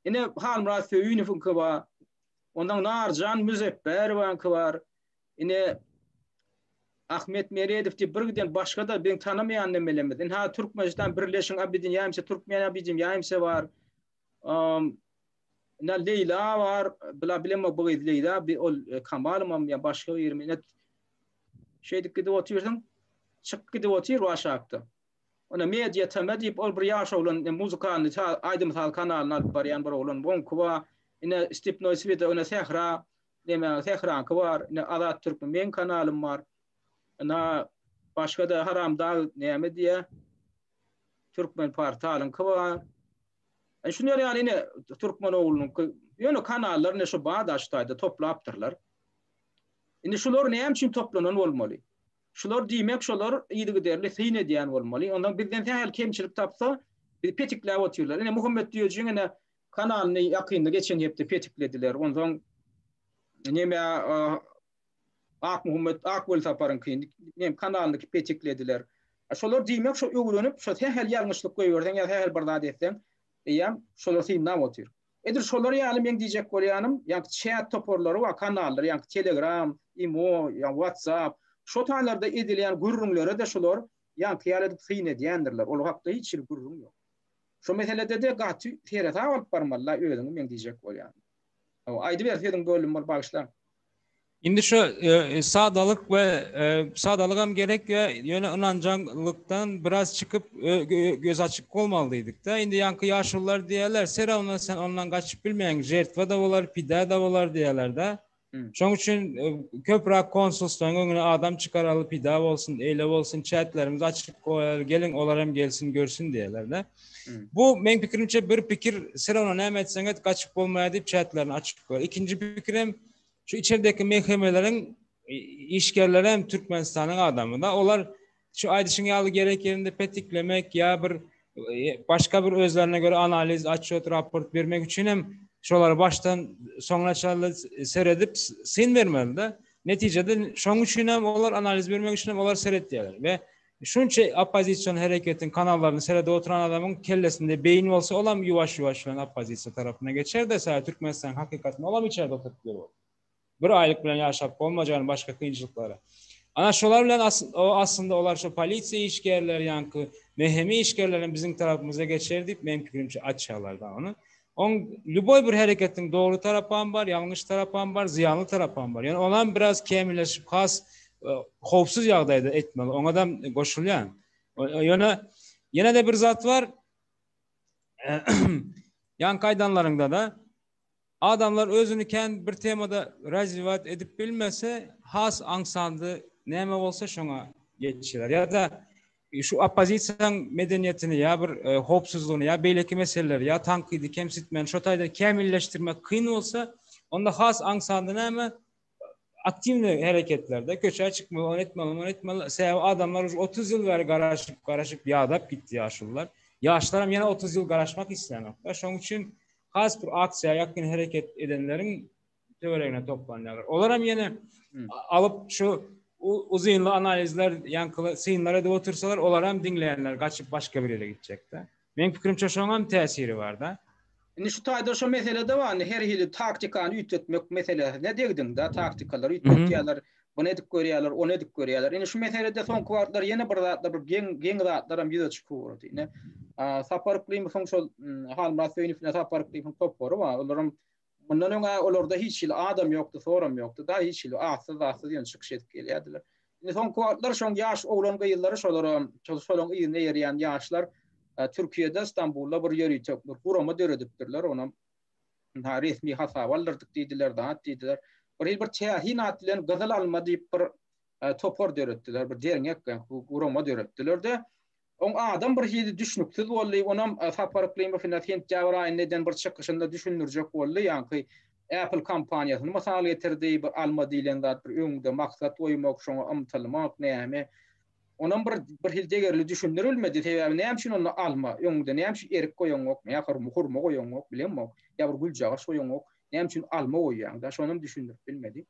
ine, Halmyrat Söýünowyňky bar, ondan Narjan Müzepberowaňky bar, ine, Ahmet Meredow diýip bir giden başga-da biziň tanamaýan nemelerimiz, ine, Türkmenistan Birleşiň Abidin Ýaýmse, Türkmen Abidin Ýaýmse bar, Ina Leýla bar, bila bilemok bu gyz Leýla, bi ol e, Kamalymam ýa başga bir minet şeýdip gidip otyrsyň, çykyp gidip otyr bu aşakda. Ona media teme diýip ol bir ýaş oglan e, muzykalny aýdym saz kanalyny alyp barýan bir oglan boňky wa ine Stepnoy Svida ina Sehra neme Sehranky bar, ine Azat Türkmen meň kanalym bar. Ina başga da haramdag näme diýä? Türkmenportalyňky bar. E, şular ýaly ine Türkmenoglunyňky, ýöne kanallar ine şu Badaş taýda toplapdyrlar. Indi şular näme üçin toplanan bolmaly? Şular diýmek, şular yzygiderli syn edýän bolmaly. Ondan bizden sähel kemçilik tapsa, bizi petikläp otyrlar. Ine Muhammet Düýejiň ine kanalyny ýakynda geçen hepde petiklediler. Ondan näme Akmuhammet Akwelsaparyňky nem kanalynyky peteklediler. Şolar diýmek şo öwrenip şo sähel ýalňyşlyk goýberseň ýa sähel bir zat etseň eýýäm şolar synlap otyr. Edil şolar ýaly meň diýjek bolýanym ýaňky çat toparlary bar kanallar ýaňky telegram, imo, ýa whatsapp şo taýlarda edilýän gürrüňlere-de şolar ýaňky ýaly edip syn edýändirler ol hakda hiç hili gürrüň ýok. Şo meselede-de gaty seresap alyp barmaly-la özüňi meň diýjek bolýanym. Hawa aýdyber sözüň böldüm bir bagyşla. Indi şu sadalyk we sadalygam gerek we ýöne ynanjaňlykdan biraz çykyp göz açyk bolmaly diýdik-de. Indi ýaňky ýaşulular diýerler, Sera ondan sen ondan gaçyp bilmeýäň, žertwa da bolar, pida da bolar diýerler-de. Şoň üçin köpräk konsulstwaň öňüne adam çykaraly, pida bolsun, eýle bolsun, çäklerimizi açyk goýaly, geliň olar hem gelsin, görsün diýerler-de. Bu men pikirimçe bir pikir sen ona näme etseň et gaçyp bolmaýar diýip çätlerini açyp goýar. Ikinji pikirem şu içerideki mehkemeleriň işgärleri hem Türkmenistanyň adamy da olar şu aýdyşyň ýaly gerek ýerinde petiklemek ýa bir e, başga bir özlerine göre analiz, açyt, raport bermek üçin hem şolary başdan soňuna çenli seredip syn bermeli de. Netijede şoň üçin hem olar analiz bermek üçin hem olar seretýärler we Şunça oppozision hereketiň kanallaryny serede oturan adamyň kellesinde beýin bolsa olam ýuwaş ýuwaş bilen oppozisiýa tarapyna geçerde saýa türkmenistanyň hakykatyny olam içerde oturyp biler ol. Bir aýlyk bilen ýaşap bolmaj ýaly başga kynçylyklary. Ana şolar bilen o aslynda olar şo polisiýa işgärleri ýaňky mhmi işgerlerem biziň tarapymyza geçer diýip meň pikirimçe açýalar da ony. Oň lýuboý bir hereketiň dogry tarapam bar, ýalňyş tarapam bar, zyýanly tarapam bar. Ýöne onam biraz kämilleşip has howpsuz ýagdaýda etmeli. Oňadam goşulýan. Ýöne ýene-de bir zat bar. Ýaňky aýdanlaryňda-da adamlar özüni kän bir temada razwiýat edip bilmese, has aňsandy näme bolsa şoňa geçýär. Ýa-da Şu oppozisiýaň medeniýetini ýa bir howpsuzlygyny ýa beýleki meseleleri ýa tankydy kemsitmän şo taýda kämilleşdirmek kyn bolsa, onda has aňsatda näme aktiwnyý hereketlerde köçä çykmaly, ony etmeli, muny etmeli. Sebäbi adamlar uje otuz ýyl bäri garaşyp, garaşyp ýadap gitdi ýaşulylar. Ýaşlar hem ýene otuz ýyl garaşmak isleýänok-da. Şoň üçin has bir aksiýa ýakyn hereket edenleriň töweregine toplanýarlar. Olar hem ýene alyp şu uzynly analizler, ýaňky synlar edip otursalar, olar hem diňleýänler gaçyp başga bir ýere gitjekde. Meň pikirimçe şoň hem täsiri barda. Indi şu taýda şu meselede bar, her hili taktikany üýtgetmek meselesine degdiňda, taktikalary üýtgetýärler, bunu edip görýärler, ony edip görýärler. Indi şu meselede soňky wagtlar ýene bir zatlar, bir geň, geň zatlar hem ýüze çykyp ugrady. Ine, Sapar Yklimowyň şol Halmyrat Söýünow bilen Sapar Yklimowyň topary bar. Olaryň Mundan öň-ä olarda hiç hili adam ýokdy, soram ýokdy-da, hiç hili atsyz-zatsyz ýöne çykyş edip gelýärdiler. Indi soňky wagtlar şoň ýaş oglan-gyzlary şolaram, şol şolaň yzyna eýerýän ýaşlar Türkiýede, Stambulda bir ýörite bir gurama döredipdirler, onam ynha resmi hasaba aldyrdyk diýdiler, zat diýdiler. Bir hili bir täsin at bilen Gyzyl alma diýip bir topar döretdiler, bir derňek, gurama döretdiler-de, Oň adam bir hili düşnüksiz boldy. Onam Sapar Yklymowna sentýabr aýynda eden bir çykyşynda düşündirjek boldy. Ýaňky Apple kompaniýasyny mysal getirdi. Bir alma diýlen zat, bir öňde maksat goýmak, şoňa ymtylmak, näme. Onam bir bir hili degerli düşündirilmedi. Sebäbi näme üçin onda alma? Öňde näme üçin erik goýaňok? Nähili bir hurma goýaňok? Bilemok. Ýa bir güljagaç goýaňok? Näme üçin alma goýýaň-da? Şonam düşündirip bilmedi.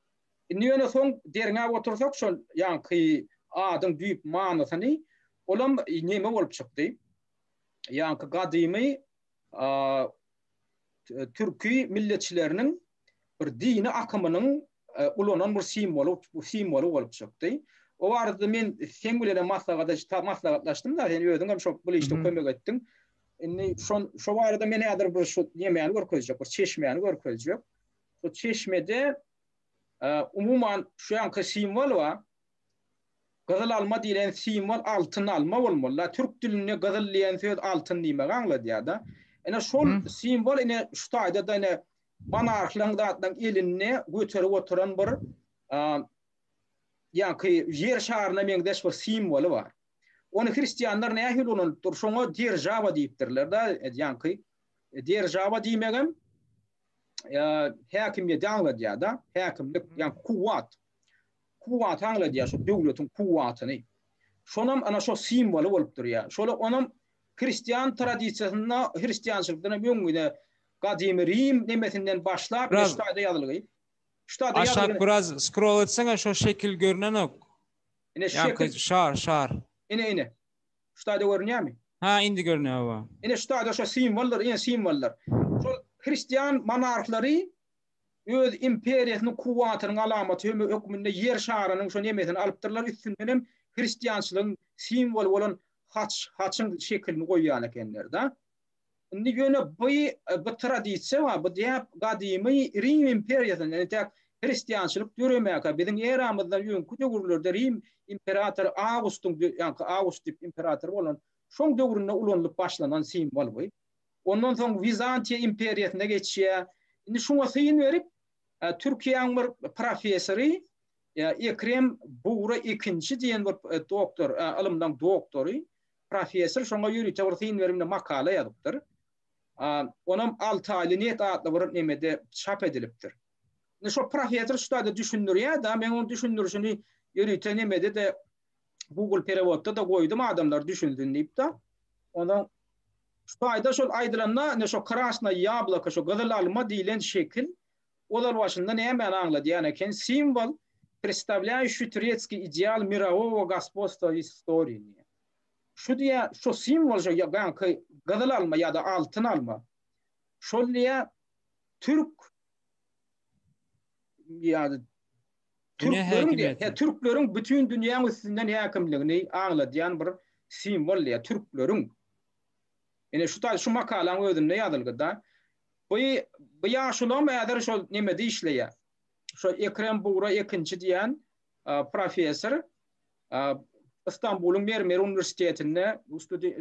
Indi ýöne soň derňäp otursak şol ýaňky adyň düýp manysyny, olam neme bolup çykdy? Ýaňky gadymy türki milletçileriniň bir dini akymynyň ulanan bir simwoly, bu simwoly bolup çykdy. O barada men seň bilenem maslahatlaşdym, maslahatlaşdym da, sen özüňem şo bu işde kömek etdiň. Indi şo barada men häzir bir şu nemäni görkezjek, bir çeşmäni görkezjek. Şu çeşmede umuman şu anki simwol bar. Gyzyl alma diýlen simwol altyn alma bolmaly. La türk dilinde gyzyl diýen söz altyn diýmegi aňladýar-da. Ine şol simwol ine şu taýda da ine monarhlaryň zatlaryň elinde göterip oturan bir ýa-ki ýer şaryna meňzeş bir simwoly bar. Ony hristianlar nähili ulanypdyr? Şoňa derjawa diýipdirler-de, ýa-ki derjawa diýmegem häkimiýeti aňladýar-da, häkimlik, ýagny kuwwat. Kuwwat aňladýar, şu döwletiň kuwwatyny. Şonam ana şo simwoly bolup durýar. Şola onam hristian tradisiýasynda, hristiançylykdan hem öň gide gadymy Rim nemesinden başlap, Biraz- şu taýda ýazylgy. Şu taýda Aşak ýazylgy. biraz scroll etseňe şo şekil görnenok. Ine şu Ýaňky şekil, şar, şar. ine, ine. Şu taýda görünýärmi? Hä, indi görünýär, hawa. Ine, şu taýda şo simwollar, ine, simwollar. Şol hristian monarhlary öz imperiýasynyň kuwwatynyň alamaty hem hökmünde Ýer şarynyň şo nemesini alypdyrlar, üstünden hem hristiançylygyň simwoly bolan haç, haçyň şekilini goýýan ekenler-de. Indi ýöne bu bu tradisiýa bar, bu däp gadymy Rim imperiýasyndan, entek hristiançylyk döremäkä, biziň eramyzdan öňki döwürlerde Rim imperatory Awgustyň, ýaňky Awgust diýip imperator bolan, şoň döwründe ulanylyp başlanan simwol bu. Ondan soň Wizantiýa imperiýasyna geçýär. Indi şuňa syn berip, Türkiýäň bir professory Ekrem Bugra ikinji diýen bir doktor, ylymlaryň doktory, Professor şoňa ýörite bir syn berimde makala ýazypdyr. Onam alty aýly net atly bir nemede çap edilipdir. Indi şo professor şu taýda düşündirýär-de, men onuň düşündirişini ýörite nemede-de Google perewodda-da goýdum adamlar düşünsin diýip-de. Onsoň şu taýda şol aýdylanda, indi şo krasnaý ýabloko, şo gyzyl alma diýlen şekil, Ozal başynda nämäni aňladýan eken simwol Predstawlýaýuşi turetskiý ideal mirawowo gospodstwa w istorini. Şu diýä, şu simwol şu ýaňky gyzyl alma ýa-da altyn alma. Şol diýä türk ýa-da türkleriň diýä, he türkleriň bütin dünýäň üstünden häkimligini aňladýan bir simwol diýä türkleriň. Ine şu taýy şu makalaň özünde ýazylgyda Bu bu ýaşulam häzir şol nemede işleýär. Şo Ekrem Bugra Ekinçi diýen professor Istanbulyň Mermer uniwersitetinde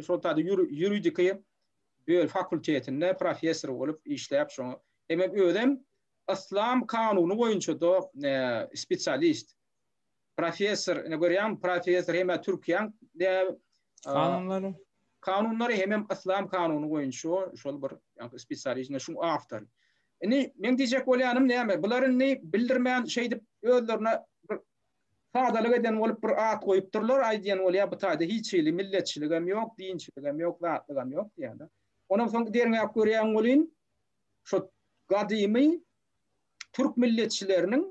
şol taýda ýuridiki böl fakultetinde professor bolup işläp şoňa. Emem özem yslam kanuny boýunça-da spesialist. professor ine görýäňmi professor hemä türkiýäň kanunlary kanunlary hemem islam kanuny boýunça şol bir ýa-da spesialistine şu awtor indi men diýjek bolýanym näme bular indi bildirmän şeýdip özlerine bir sadalyk eden bolup bir at goýupdyrlar aýdýan bolýar bu taýda hiç hili milletçilik hem ýok dinçilik hem ýok zatlyk hem ýok diýýärler ondan soň derňäp görýän bolýyn şu gadymy türk milletçileriniň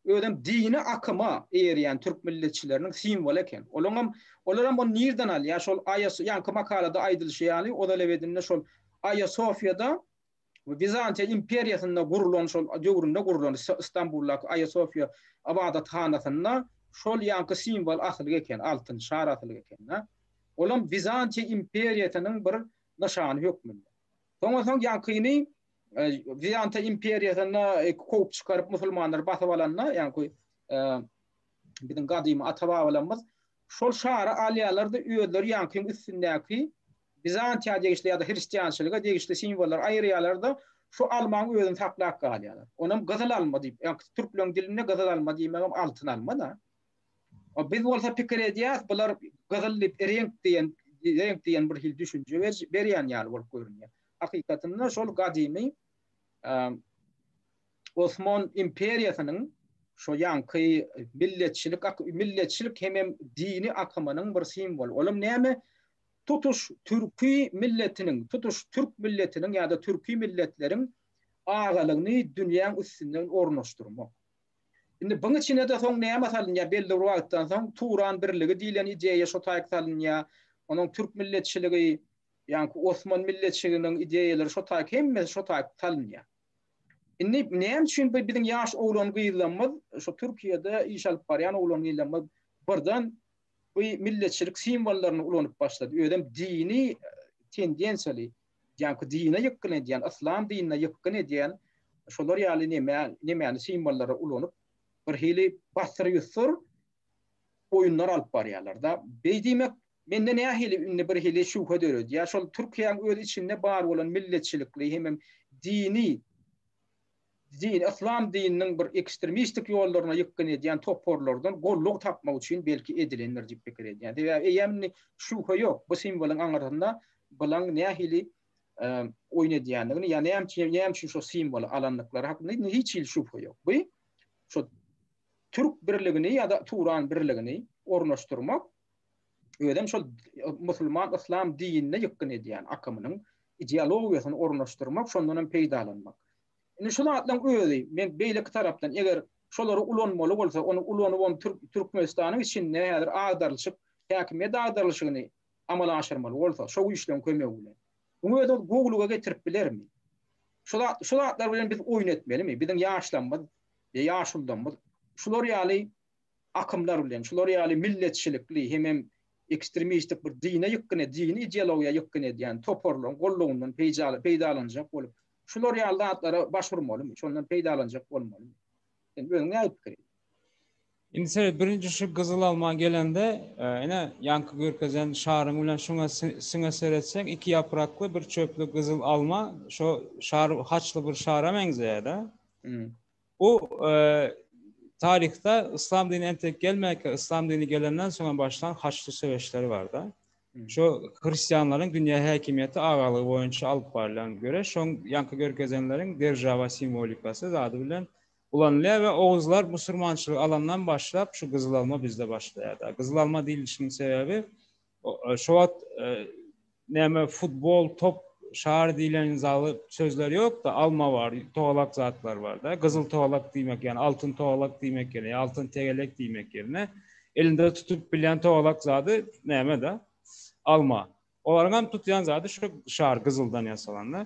özem dini akyma eýerýän türk milletçileriniň simwoly eken. Olaň hem olar hem ony nirden alýar? Şol Aýa ýaňky makalada aýdylyşy ýaly, Ozalebedinde şol Aýa Sofiýada Wizantiýa imperiýasynda gurlan şol döwründe gurlan Istanbuldaky Aýa Sofiýa ybadathanasynda şol ýaňky simwol asylyk eken, altyn şar asylyk eken-dä. Olam Wizantiýa imperiýasynyň bir nyşany hökmünde. Soňa soň ýaňkyny Wizantiýa imperiýasynda kowup çykaryp musulmanlary basyp alanda, ýagny biziň gadymy ata-babalarymyz şol şary alýarlar da özleri ýaňkyň üstündäki Bizantiýa degişli ýa-da hristiançylyga degişli simwollary aýyrýarlar da şu almaň özüni saklap galýarlar. Onam gyzyl alma diýip, ýagny türkleň dilinde gyzyl alma diýmegem altyn alma da. Biz bolsa pikir edýäris, bular gyzyl diýip reňk diýen reňk diýen bir hil düşünje berýän ýaly bolup görünýär. hakykatynda şol gadymy Osman imperiýasynyň şo ýaňky milletçilik milletçilik hemem dini akymynyň bir simwoly. Olam näme? Tutuş türki milletiniň, tutuş türk milletiniň ýa-da türki milletleriň agalygyny dünýäň üstünde ornaşdyrmak. Indi buň içine-de soň näme salynýar? Belli bir wagtdan soň Turan birligi diýlen ideýa şo taýyk salynýar. Onuň türk milletçiligi ýaňky Osman milletçiliginiň ideýalary şo taýyk hemmesi şo taýyk salynýar. Indi näme üçin bu biziň ýaş oglan-gyzlarymyz, şo Türkiýede iş alyp barýan oglan-gyzlarymyz birden bu milletçilik simwollaryny ulanyp başlady, özem dini tendensiýaly, ýaňky dine ýykgyn edýän, yslam dinine ýykgyn edýän şolar ýaly neme, nemäni simwollary ulanyp, birhili basyr-ýusur oýunlar alyp barýarlar-da. Beý diýmek, mende nähili indi birhili şübhe döredýär, şol Türkiýäň öz içinde bar bolan milletçilikli hemem dini, din, yslam dininiň bir ekstrmistik ýollaryna ýykgyn edýän toparlardan gollugy tapmak üçin belki edilendir diýip pikir edýän. Sebäbi eýýäm indi şübhe ýok, bu simwolyň aňyrsynda bulaň nähili oýun edýändigini ýa näme üçin, näme üçin şo simwoly alandyklary hakynda indi hiç hili şübhe ýok. Bu şo Türk birligini ýa-da Turan birligini ornaşdyrmak özem şol musulman yslam dinine ýykgyn edýän akymynyň ideologiýasyny ornaşdyrmak, şondan hem peýdalanmak. Indi şu zatlaryň özi men beýleki tarapdan eger şolary ulanmaly bolsa, ony ulanybam Türkmenistanyň içinde häzir agdarylyşyk, häkimiýet agdarylyşygyny amala aşyrmaly bolsa, şo güýçleriň kömegi bilen. Bu özi gowulyga getirip bilermi? Şu zatlar bilen biz oýun etmelimi? Biziň ýaşlarymyz we ýaşuldymyz şular ýaly akymlar bilen, şular ýaly milletçilikli hemem ekstremistik bir dine ýykgyn, dini ideologiýa ýykgyn edýän toparlaryň gollagyndan peýdalanjak bolup, şular ýaly zatlara baş urmalymy, şondan peýdalanjak bolmalymy? Sen özüň näme pikir ediň? Indi sered, birinji şu gyzyl alma gelende, ine, ýaňky görkezen şaryň bilen şuňa siňe seretseň, iki ýaprakly, bir çöpli gyzyl alma, şo şar haçly bir şara meňzeýär-dä. Bu taryhda yslam dini entek gelmänkä, yslam dini gelenden soň hem başlan haçly söweşleri bar-da. Şo hristianlaryň dünýä häkimiýeti agalygy boýunça alyp barlan göreş, şoň ýaňky görkezenleriň deržawa simwolikasy zady bilen Ulanylýar we oguzlar musurmançylygy alandan başlap şu gyzyl alma bizde başlaýarda. Gyzyl alma diýilişiniň sebäbi şo wagt näme futbol top şary diýlen zaly sözler ýokda alma bar togalak zatlar barda gyzyl togalak diýmek ýagny altyn togalak diýmek ýene altyn tegelek diýmek ýerine elinde tutup bilýän togalak zady nämeda alma Olaryň hem tutýan zady şu şar gyzyldan ýasalanda.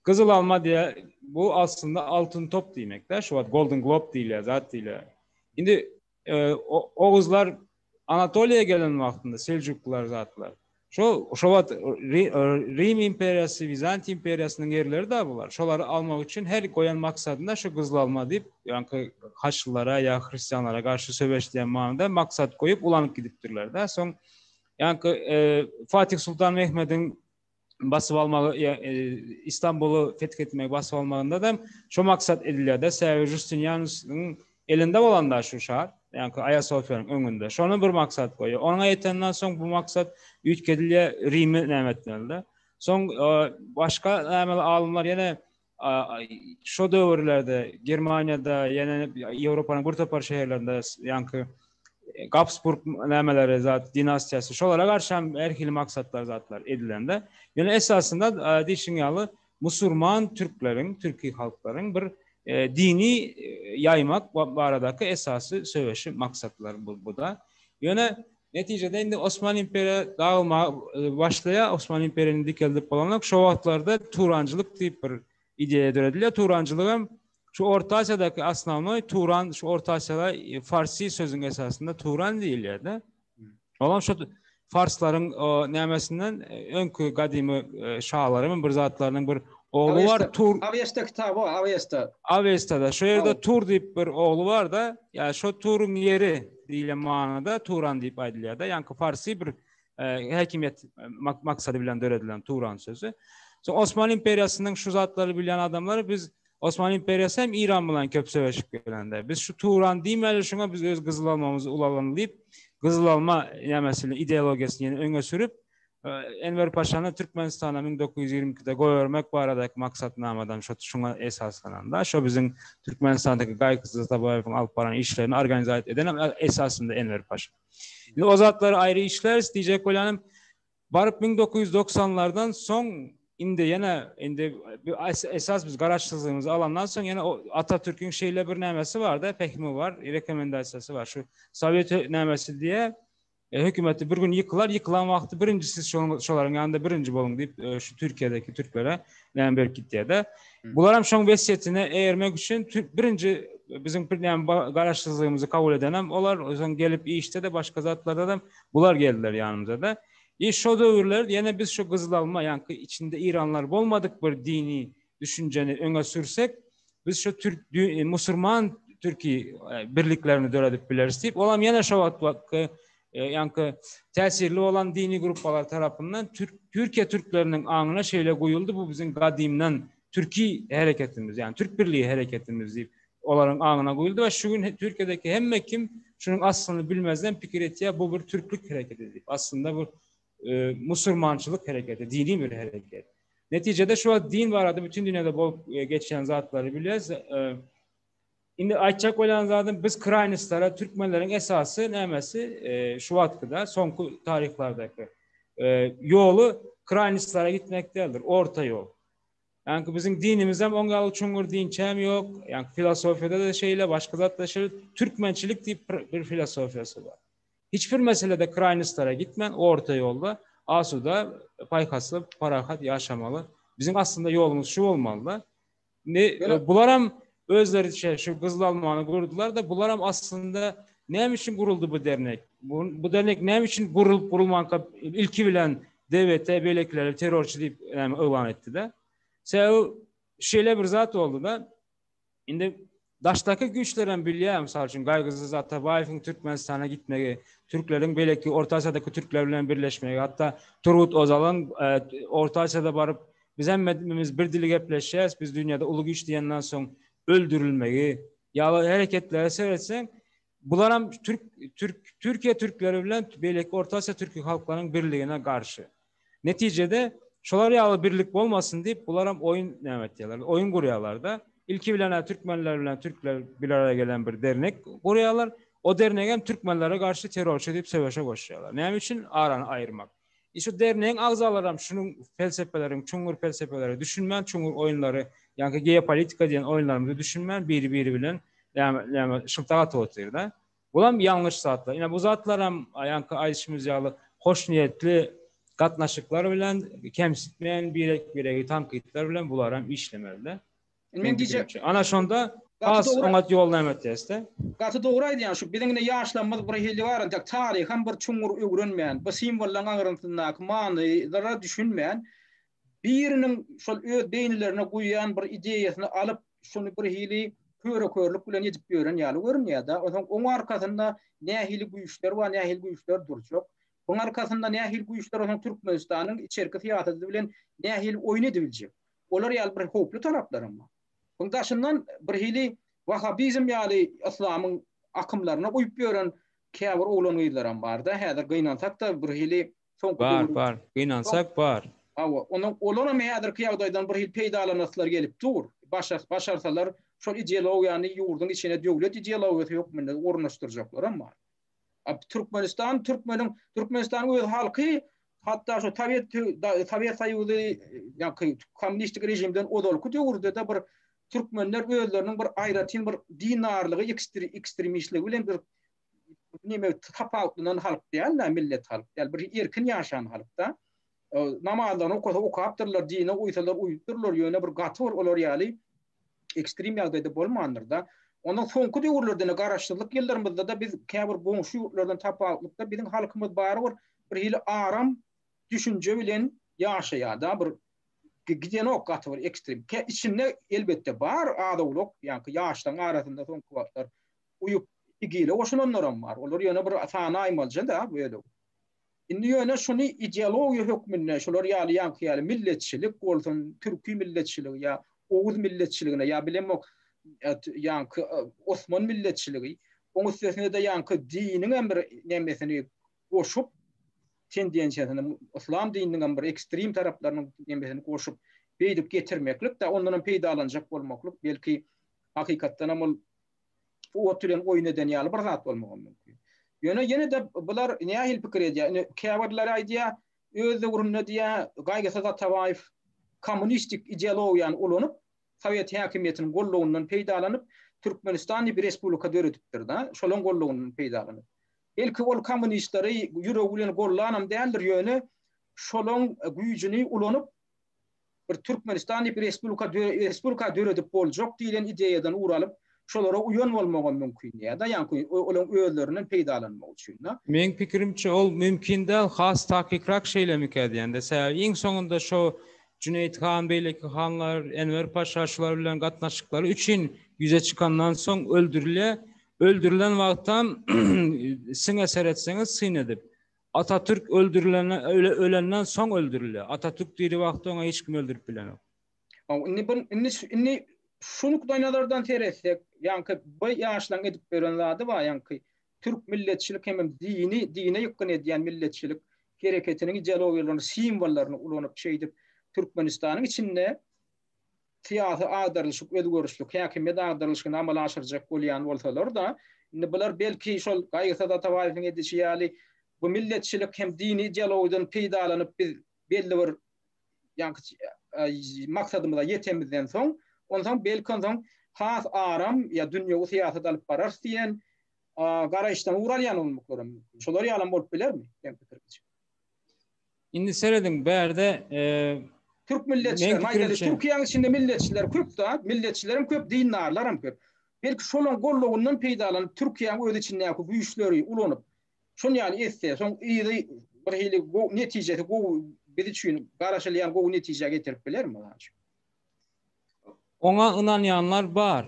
Gyzyl alma diýe bu aslynda altyn top diýmekde. Şu wagt Golden Globe diýilýär, zat diýilýär. Indi e, oguzlar Anatoliýa gelen wagtynda Seljuklular zatlar. Şo şo wagt Rim imperiýasy, Wizant imperiýasynyň ýerleri de bular. Şolary almak üçin her goýan maksadyna şu gyzyl alma diýip, ýaňky haçlylara ýa hristianlara garşy söweş diýen manyda maksat goýup ulanyp gidipdirler-de. Soň Ýa-ki Fatih Sultan Mehmediň basyp almagy Istanbuly feth etmegi basyp almagynda hem şo maksat edilýär-de, sebäbi Justinianusyň elinde bolanda şu şar, ýa-ki Aýasofiýanyň öňünde. Şony bir maksat goýýar. Oňa ýetenden soň bu maksat üýtgedilýär, Rimi näme etmeli-de. Soň başga näme alymlar ýene Şo döwürlerde Germaniýada, ýene Ýewropanyň bir topar şäherlerinde ýaňky Gabsburg nämeleri zat dinastiýasy şolara garşy hem her hili maksatlar zatlar edilende ýöne esasynda diýşiň ýaly musurman türkleriň türki halklaryň bir dini ýaýmak baradaky esasy söweşi maksatlar bu da ýöne Netijede indi Osman imperiýa dagylmaga başlaýar. Osman imperiýany dikeldip bolanok. Şo wagtlarda Turançylyk diýip bir ideýa döredilýär. Turançylygam şu Orta Asiýadaky osnownoý Turan şu Orta Asiýada farsi sözüň esasynda Turan diýilýär-de. Olam şo farslaryň nämesinden öňki gadymy şalaryň bir zatlarynyň bir ogly bar Tur. Awesta kitaby o Awesta. Awestada şo ýerde Tur diýip bir ogly bar-da. Ýa şo Turyň ýeri. diýlen manyda Turan diýip aýdylýar-da, ýaňky parsy bir häkimiýet maksady bilen döredilen Turan sözi. So Osman imperiýasynyň şu zatlary bilýän adamlary biz Osman imperiýasy hem Iran bilen köp söweşip gelende. Biz şu Turan diýmeli şuňa biz öz gyzyl almamyzy ulalyň diýip, gyzyl alma nämesini ideologiýasyny ýene öňe sürüp, Enwer Paşany Türkmenistana müň dokuz ýüz ýigrimi ikide goýbermek baradaky maksatnamadan şo şuňa esaslananda, şo biziň Türkmenistandaky Gaýyksyz Atabaýewiň alyp baran işlerini organizat eden hem esasynda Enwer Paşa. Indi o zatlary aýry işläris diýjek bolýanym, baryp müň dokuz ýüz doksanlardan soň indi ýene indi esas biz garaşsyzlygymyzy alandan soň ýene Atatürkiň şeýle bir nämesi bar-da, pähimi bar, rekomendasiýasy bar. Şu Sowet nämesi diýe, Hökümeti bir gün ýykylar, ýykylan wagty birinji siz şolaryň ýanynda birinji boluň diýip, şu Türkiýedäki türklere näme berip gitýär-de. Bular hem şoň wesýetine eýermek üçin birinji biziň bir näme garaşsyzlygymyzy kabul edenem olar, soň gelip işde-de, başga zatlarda-da bular geldiler ýanymyza-da. Iş şo döwürler ýene biz şu gyzylalma, ýaňky içinde iranlar bolmadyk bir dini düşünjeni öňe sürsek, biz şu türk musulman türki birliklerini döredip bileris diýip, olam ýene şo wagtky ýanky täsirli bolan dini gruppalar tarapyndan türk Türkiýe türkleriniň aňyna şeýle guýuldy, bu biziň gadymdan türki hereketimiz, ýani türk birligi hereketimiz diýip, olaryň aňyna guýuldy we şu gün Türkiýedeki hemme kim şunuň aslyny bilmezden pikir etýär, bu bir türklük hereketi diýip. Aslynda bu musurmançylyk hereketi, dini bir hereket. Netijede şu wagt din barada bütün dünyada bol e, geçen zatları bilýäs. E, indi aýtjak bolýan zadym biz kraýnistlara türkmenleriň esasy nämesi e, şu wagtkyda soňky taryhlardaky ýoly kraýnistlara gitmek däldir, orta ýol. Yani bizim dinimiz hem onga alıp çungur din çem yok. Yani filosofyada da şeyle başka zatlaşır. Türkmençilik diye bir filosofyası var. Hiç bir meselede kraýnostlara gitmän, orta ýolda asuda, paýhasly, parahat ýaşamaly. Biziň aslynda ýolumyz şu bolmaly-da. Indi bularam özleriçe şu gyzyl almany gurdular-da, bularam aslynda näme üçin guruldy bu dernek? Bu dernek näme üçin gurulyp gurulmanka ilki bilen DBT beýlekileri terrorçy diýip yglan etdi-de? Sebäbi şeýle bir zat boldy-da, indi Daşdaky güýçlerem bilýär, mysal üçin, Gaýgysyz Atabaýewiň Türkmenistana gitmegi, türkleriň beýleki Orta Aziýadaky türkler bilen birleşmegi, hatda Turgut Ozalyň Orta Aziýada baryp, Biz hemmemiz bir dili gepleşýäs, biz dünýäde uly güýç diýenden soň öldürilmegi ýaly hereketleri seretseň, Bularam türk türk Türkiýe türkleri bilen beýleki Orta Aziýa türki halklaryň birligine garşy. Netijede şolar ýaly birlik bolmasyn diýip bularam oýun näme etýärler? Oýun gurýarlar-da. Ilki bilen türkmenler bilen türkler bir araya gelen bir dernek gurýarlar. O dernegem türkmenlere garşy terrorçy diýip söweşe goşýarlar. Näme üçin arany aýyrmak? Ine şu dernegiň agzalaram şunuň pelsepeleriň, çuňňur pelsepeleri düşünmän, çuňňur oýunlary, ýaňky geopolitika diýen oýunlarymyzy düşünmän biri-biri bilen näme näme şyltak atyp otyrda. Bulam ýalňyş zatlar. Ine bu zatlaram ýaňky aýdyşymyz ýaly hoşniýetli gatnaşyklar bilen, kemsitmän birek-biregi tankytlar bilen bularam işlemeli-de. Men diýjek, ana şonda has oňat ýol näme etýäsde? Gaty dogry aýdýaň, şu biziň indi ýaşlarymyz bir hili bar, entek taryham bir çuňňur öwrenmän, bu simwollaryň aňryntyndaky manylara düşünmän, biriniň şol öz beýnilerine guýýan bir ideýasyny alyp, şony bir hili köre-körlük bilen edip ýören ýaly görünýär-de. Onsoň oň arkasynda nähili güýçler bar, nähili güýçler durjak? Oň arkasynda nähili güýçler onsoň Türkmenistanyň içerki syýasaty bilen nähili oýun edibiljek? Olar ýaly bir howply taraplar hem bar. Muň daşyndan birhili wahabizm ýaly yslamyň akymlaryna uýup ýören käbir oglan-gyzlaram bar-da, häzir gynansak-da birhili soňky döwür. Bar, bar. Gynansak bar. Hawa, onuň olaram häzirki ýagdaýdan birhili peýdalanasylary gelip dur. Başa, başarsalar şol ideologiýany ýurduň içine döwlet ideologiýasy hökmünde ornaşdyrjaklaram bar. Türkmenistan türkmeniň Türkmenistanyň öz halky hatda şu Sowet Sowet Soýuzy ýaky kommunistik režimden ozalky döwürde de bir türkmenler özleriniň bir aýratyn bir dinarlygy ekstremistligi bilen bir neme tapawutlanan halk däl-de millet halk däl bir erkin ýaşan halkda. Namazlaryny okasa okapdyrlar, dine uýsalar uýupdyrlar, ýöne bir gaty bir olar ýaly ekstrem ýagdaýda bolmandyr-da. Ondan soňky döwürlerde-de garaşsyzlyk ýyllarymyzda-da biz käbir goňşy ýurtlardan tapawutlykda biziň halkymyz barybir bir hili aram düşünje bilen ýaşaýar-da, bir gidenok gaty bir ekstrem. Içinde elbetde bar az-owlak, ýaňky ýaşlaryň arasynda soňky wagtlar uýup, igile goşulanlaram bar. Olar ýöne bir sanaýmalyja-da bölek. Indi ýöne şuny ideologiýa hökmünde şular ýaly ýaňky ýaly milletçilik bolsun, türki milletçiligi ýa oguz milletçiligine ýa bilemok ýaňky osman milletçiligi, oň üstesine-de ýaňky diniňem bir nemesini goşup, tendensiýasyny, yslam dininiňem bir ekstrem taraplarynyň nemesini goşup, beýdip getirmeklik-de, ondanam peýdalanjak bolmaklyk, belki, hakykatdanam ol Bu ot bilen oýun eden ýaly bir zat bolmagam mümkin. Ýöne ýene-de bular nähili pikir edýär? Ine, käbirleri aýdýar, öz döwründe diýýär, Gaýgysyz Atabaýew kommunistik ideologiýany ulanyp, sowet häkimiýetiniň gollugyndan peýdalanyp, Türkmenistan diýip respublika döredipdir-de, şolaň gollugyndan peýdalanyp. Belki, ol kommunistleri ýüregi bilen gollanam däldir, ýöne şolaň güýjüni ulanyp, bir Türkmenistan diýip respublika respublika döredip boljak diýlen ideýadan ugur alyp, şolara uýan bolmagam mümkin ýa-da ýaňky olaryň özlerinden peýdalanmak üçin-de. Meň pikirimçe ol mümkin däl, has takykrak şeýlemikä diýende, sebäbi iň soňunda şo Jüneýit han, beýleki hanlar, Enwer paşa şular bilen gatnaşyklary üçin ýüze çykandan soň öldürilýär. Öldürilen wagtam siňe seretseňiz syn edip, Atatürk öldürilenden ölenden soň öldürilýär. Atatürk diri wagty oňa hiç kim öldürip bilenok. Haw indi bir indi indi şu nukdaýnazardan seretsek ýaňky bu ýaşlaň edip beren zady bar ýaňky türk milletçilik hemem dini dine ýykgyn edýän milletçilik hereketiniň ideologiýalaryny simwollaryny ulanyp şeýdip Türkmenistanyň içinde syýasy agdarlyşyk, özgerişlik häkimiýet agdarlyşygyny amala aşyrjak bolýan bolsalar-da, indi bular belki şol Gaýgysyz Atabaýewiň edişi ýaly bu milletçilik hem dini ideologiýadan peýdalanyp biz belli bir ýa-ni maksadymyza ýetemizden soň, onsoň belki onsoň has aram ýa dünýewi syýasat alyp bararys diýen garaýyşdan ugur alýan bolmaklaram mümkin. Şolar ýalam bolup bilermi? Meň pikrimçe. Indi serediň bärde Türk milletçiler, maýdaly Türkiýäň içinde milletçiler köp da, milletçilerim köp, dindarlaram köp. Belki şolaryň gollawyndan peýdalanyp Türkiýäň öz içindäki güýçleri ulanyp, şon ýaly etse, soň yzy bir hili netijesi gowy biz üçin garaşylýan gowy netijä getirip bilermi? Oňa ynanýanlar bar.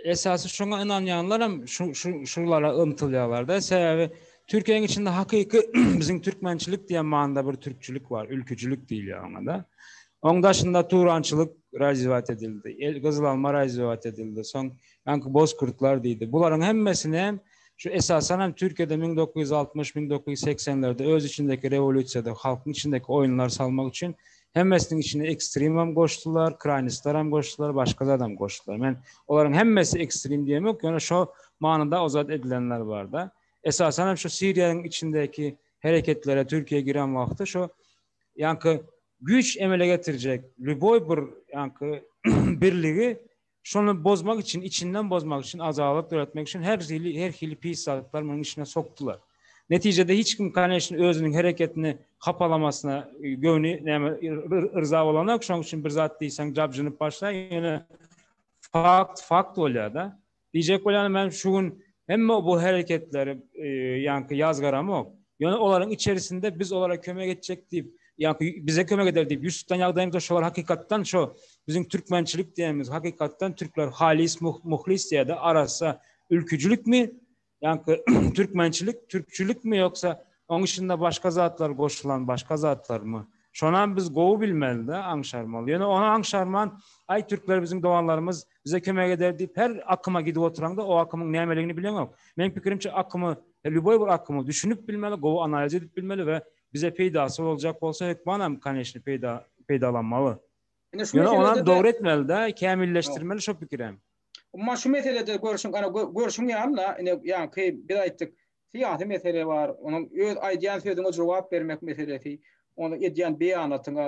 Esasy şoňa ynanýanlar hem şu şu şulara ymtylýarlar-da. Sebäbi Türkiýäniň içinde hakyky biziň türkmençilik diýen manyda bir türkçilik bar, ülküjilik diýilýär oňa-da. Oň daşynda turançylyk razywat edildi. El gyzyl alma razywat edildi. Soň ýaňky bozkurtlar diýdi. Bularyň hemmesini hem şu esasan hem Türkiýede müň dokuz ýüz altmyş, müň dokuz ýüz segsenlerde öz içindäki rewolýusiýada halkyň içindäki oýunlar salmak üçin Hemmesiniň içine ekstremam goşdular, kraýnistaram goşdular, başga zadam goşdular. Men olaryň hemmesi ekstrem diýemok, ýöne şo manyda ozat edilenler barda. Esasan hem şu Siriýanyň içindäki hereketlere Türkiýe giren wagty şo ýaňky güýç emele getirjek lýuboý bir ýaňky birligi Şony bozmak üçin, içinden bozmak üçin, ajaýyp döretmek üçin her hili, her hili pis zatlary munuň içine sokdular. Netijede hiç kim, koneçne, özüniň hereketini hapalamasyna göwni näme yrza bolanok. Şonuň üçin bir zat diýseň jabjynyp başlaýar. Ýöne fakt fakt bolýar-da. Diýjek bolýanym men şu gün Emma bu hereketleri ýaňky ýaz garamok. Ýöne olaryň içerisinde biz olara kömek etjek diýip, ýaňky bize kömek eder diýip ýüz tutan ýagdaýymyzda şolar hakykatdan şo biziň türkmençilik diýenimiz hakykatdan türkler halis muhlis diýýärdi arassa ülküjilikmi ýaňky türkmençilik türkçilikmi ýoksa oň içinde başga zatlar goşulan başga zatlarmy şonam biz gowy bilmelide aňşarmaly ýöne ony aňşarman aý türkler biziň doganlarymyz Bize kömek eder diýip her akyma gidip oturaňda o akymyň nämeligini bileňok. Meniň pikirimçe akymy, lýuboý bir akymy düşünip bilmeli, gowy analiz edip bilmeli we bize peýdasy boljak bolsa hökmanam koneçny peýda peýdalanmaly. Ýöne onam dogry etmelidä, kämilleşdirmeli şo pikirem. Umuman şu meselede görşüň, görşüň ýaly-la, ine ýaňky biz aýtdyk, Syýasy mesele bar, onuň öz aýdýan sözüňe jogap bermek meselesi, onuň edýän beýanatyňa,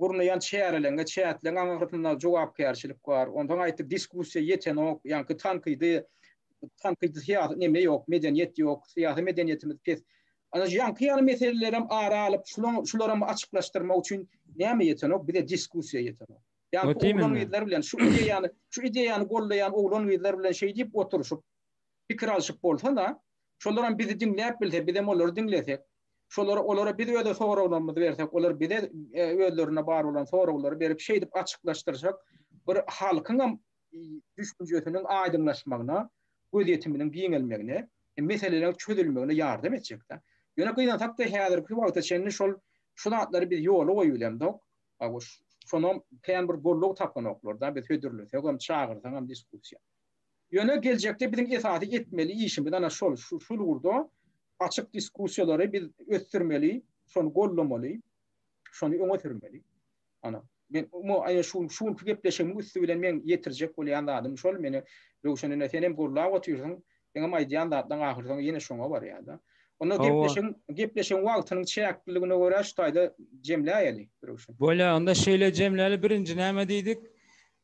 gurnaýan çäreleriňe, çäkleriň aňyrsynda jogapkärçilik bar. Onsoň aýtdy, diskussiýa ýetenok, ýaňky tankydy, tankydy syýasy neme ýok, medeniýet ýok, syýasy medeniýetimiz pes. Ana şu ýaňky ýaly meselelerem ara alyp, şulaň şularamy açyklaşdyrmak üçin näme ýetenok, bize diskussiýa ýetenok. Ýaňky oglan-gyzlar bilen şu ideýany, şu ideýany gollaýan oglan-gyzlar bilen şeý diýip oturyşyp, pikir alşyp bolsa-da, şolaram bizi diňläp bilse, bizem olary diňlesek, şolara, olara biz öz soraglarymyzy bersek, olar bize özlerinde bar bolan soraglary berip, şeýdip açyklaşdyrsak, bir halkyňam düşünjesiniň aýdyňlaşmagyna, gözýetiminiň giňelmegine, meseleleriň çözülmegine ýardam etjek-dä. Ýöne gynansak-da, häzirki wagta çenli şol şu zatlary biz ýola goýubilemzok. Şonam kän bir gollug tapanoklar-da, biz hödürlesegem, çagyrsaňam diskussiýa. Ýöne geljekde biziň esasy etmeli işimiz ana şol, şul ugurda açyk diskussiýalary biz ösdürmeli, şony gollamaly, şony öňe sürmeli. Ana, men aýa şu şu günki gepleşigimiň üsti bilen men ýetirjek bolýan zadym şol, meni Röwşen ene senem gurlap otyrsyň, seňem aýdýan zatlaň ahyrsoňy ýene şoňa barýar-da. Onda gepleşigiň gepleşigiň wagtynyň çäkliligine görä şu taýda jemläýeli, Röwşen. Bolýar, onda şeýle jemläli, birinji näme diýdik?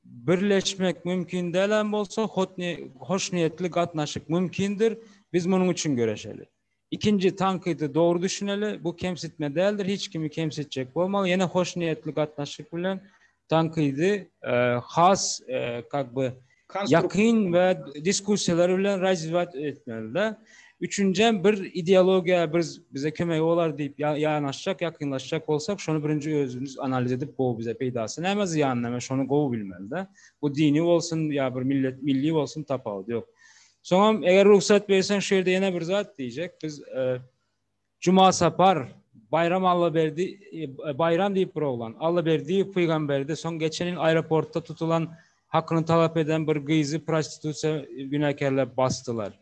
Birleşmek mümkin dälem bolsa, hoşniýetli gatnaşyk mümkindir. Biz munuň üçin göreşeli. Ikinji tankydy dogry düşüneli. Bu kemsitme däldir, hiç kimi kemsitjek bolmaz. Ýene hoşniýetli gatnaşyk bilen tankydy has kak by ýakyn we diskussiýalar bilen razwiýat etmeli-de. Üçünjem bir ideologiýa bir bize kömegi bolar diýip ýanaşjak, ýakynlaşjak bolsak, şony birinji özümiz analiz edip gowy bize peýdasy näme, zyýany näme şony gowy bilmelide. Bu dini bolsun ýa bir millet milli bolsun tapawudy ýok. Soňam eger rugsat berseň şu ýerde ýene bir zat diýjek. Biz Juma Sapar, Baýram Allaberdi, Baýram diýip bir oglan, Allaberdiýew Pygamberde, soň geçen ýyl aeroportda tutulan hakyny talap eden bir gyzy prostitusiýa günäkärläp basdylar.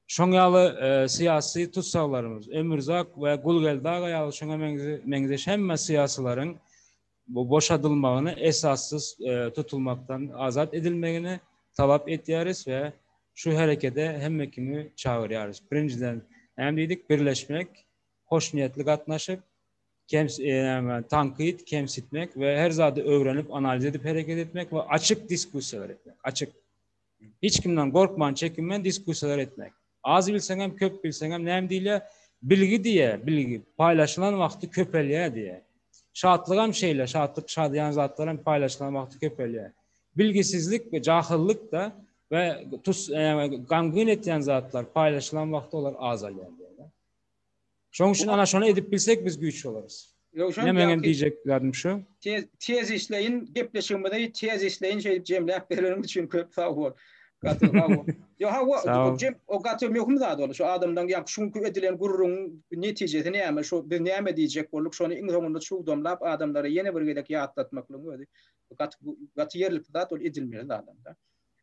Şoň ýaly syýasy tussaglarymyz, Ömürzak we Gulgeldi aga ýaly şoňa meňzeş hemme syýasylaryň bu boşadylmagyny esassyz tutulmakdan azat edilmegini talap etýäris we şu herekede hemme kimi çagyrýarys. Birinjiden, näme diýdik, birleşmek, hoşniýetli gatnaşyp, tankyt, kemsitmek we her zady öwrenip, analiz edip hereket etmek we açyk diskussiýalar etmek, açyk. Hiç kimden gorkman çekinmän diskusiýalar etmek. Az bilseňem köp bilseňem näme diýilýär? Bilgi diýýä, bilgi paýlaşylan wagty köpelýär diýýär. Şatlygam şeýle, şatlyk şadyýan zatlar hem paýlaşylan wagty köpelýär. Bilgisizlik we jahyllyk-da we tus, gamgyn etýän zatlar paýlaşylan wagty olar azalýar diýýärler. Şoň üçin ana şony edip bilsek biz güýç bolarys. Ýowşan Ine meňem diýjeklerim şu. Tez tez işleýin gepleşigimizi tez işleýin şeýdip jemläp bereniň üçin köp sag bol. Gaty sag bol. Ýo ha o jem o gaty möhüm zat ol şu adamdan ýa şu günki edilen gürrüň netijesi näme şu biz näme diýjek bolduk şony iň soňunda çugdamlap adamlara ýene bir gezek ýatlatmaklygyň özi gaty gaty ýerlikli zat ol edilmeli zadam da.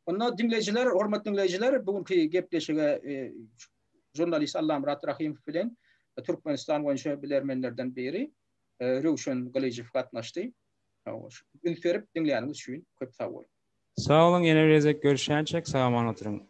Onda diňleýjiler hormatly diňleýjiler bu günki gepleşige e, Žurnalist Allamyrat Rahymow bilen Türkmenistan boýunça bilermenlerden biri Röwşen Gylyjow gatnaşdy. Üns berip diňläniňiz üçin köp sag boluň. Sag boluň ýene bir gezek görüşýänçäk sag aman oturyň.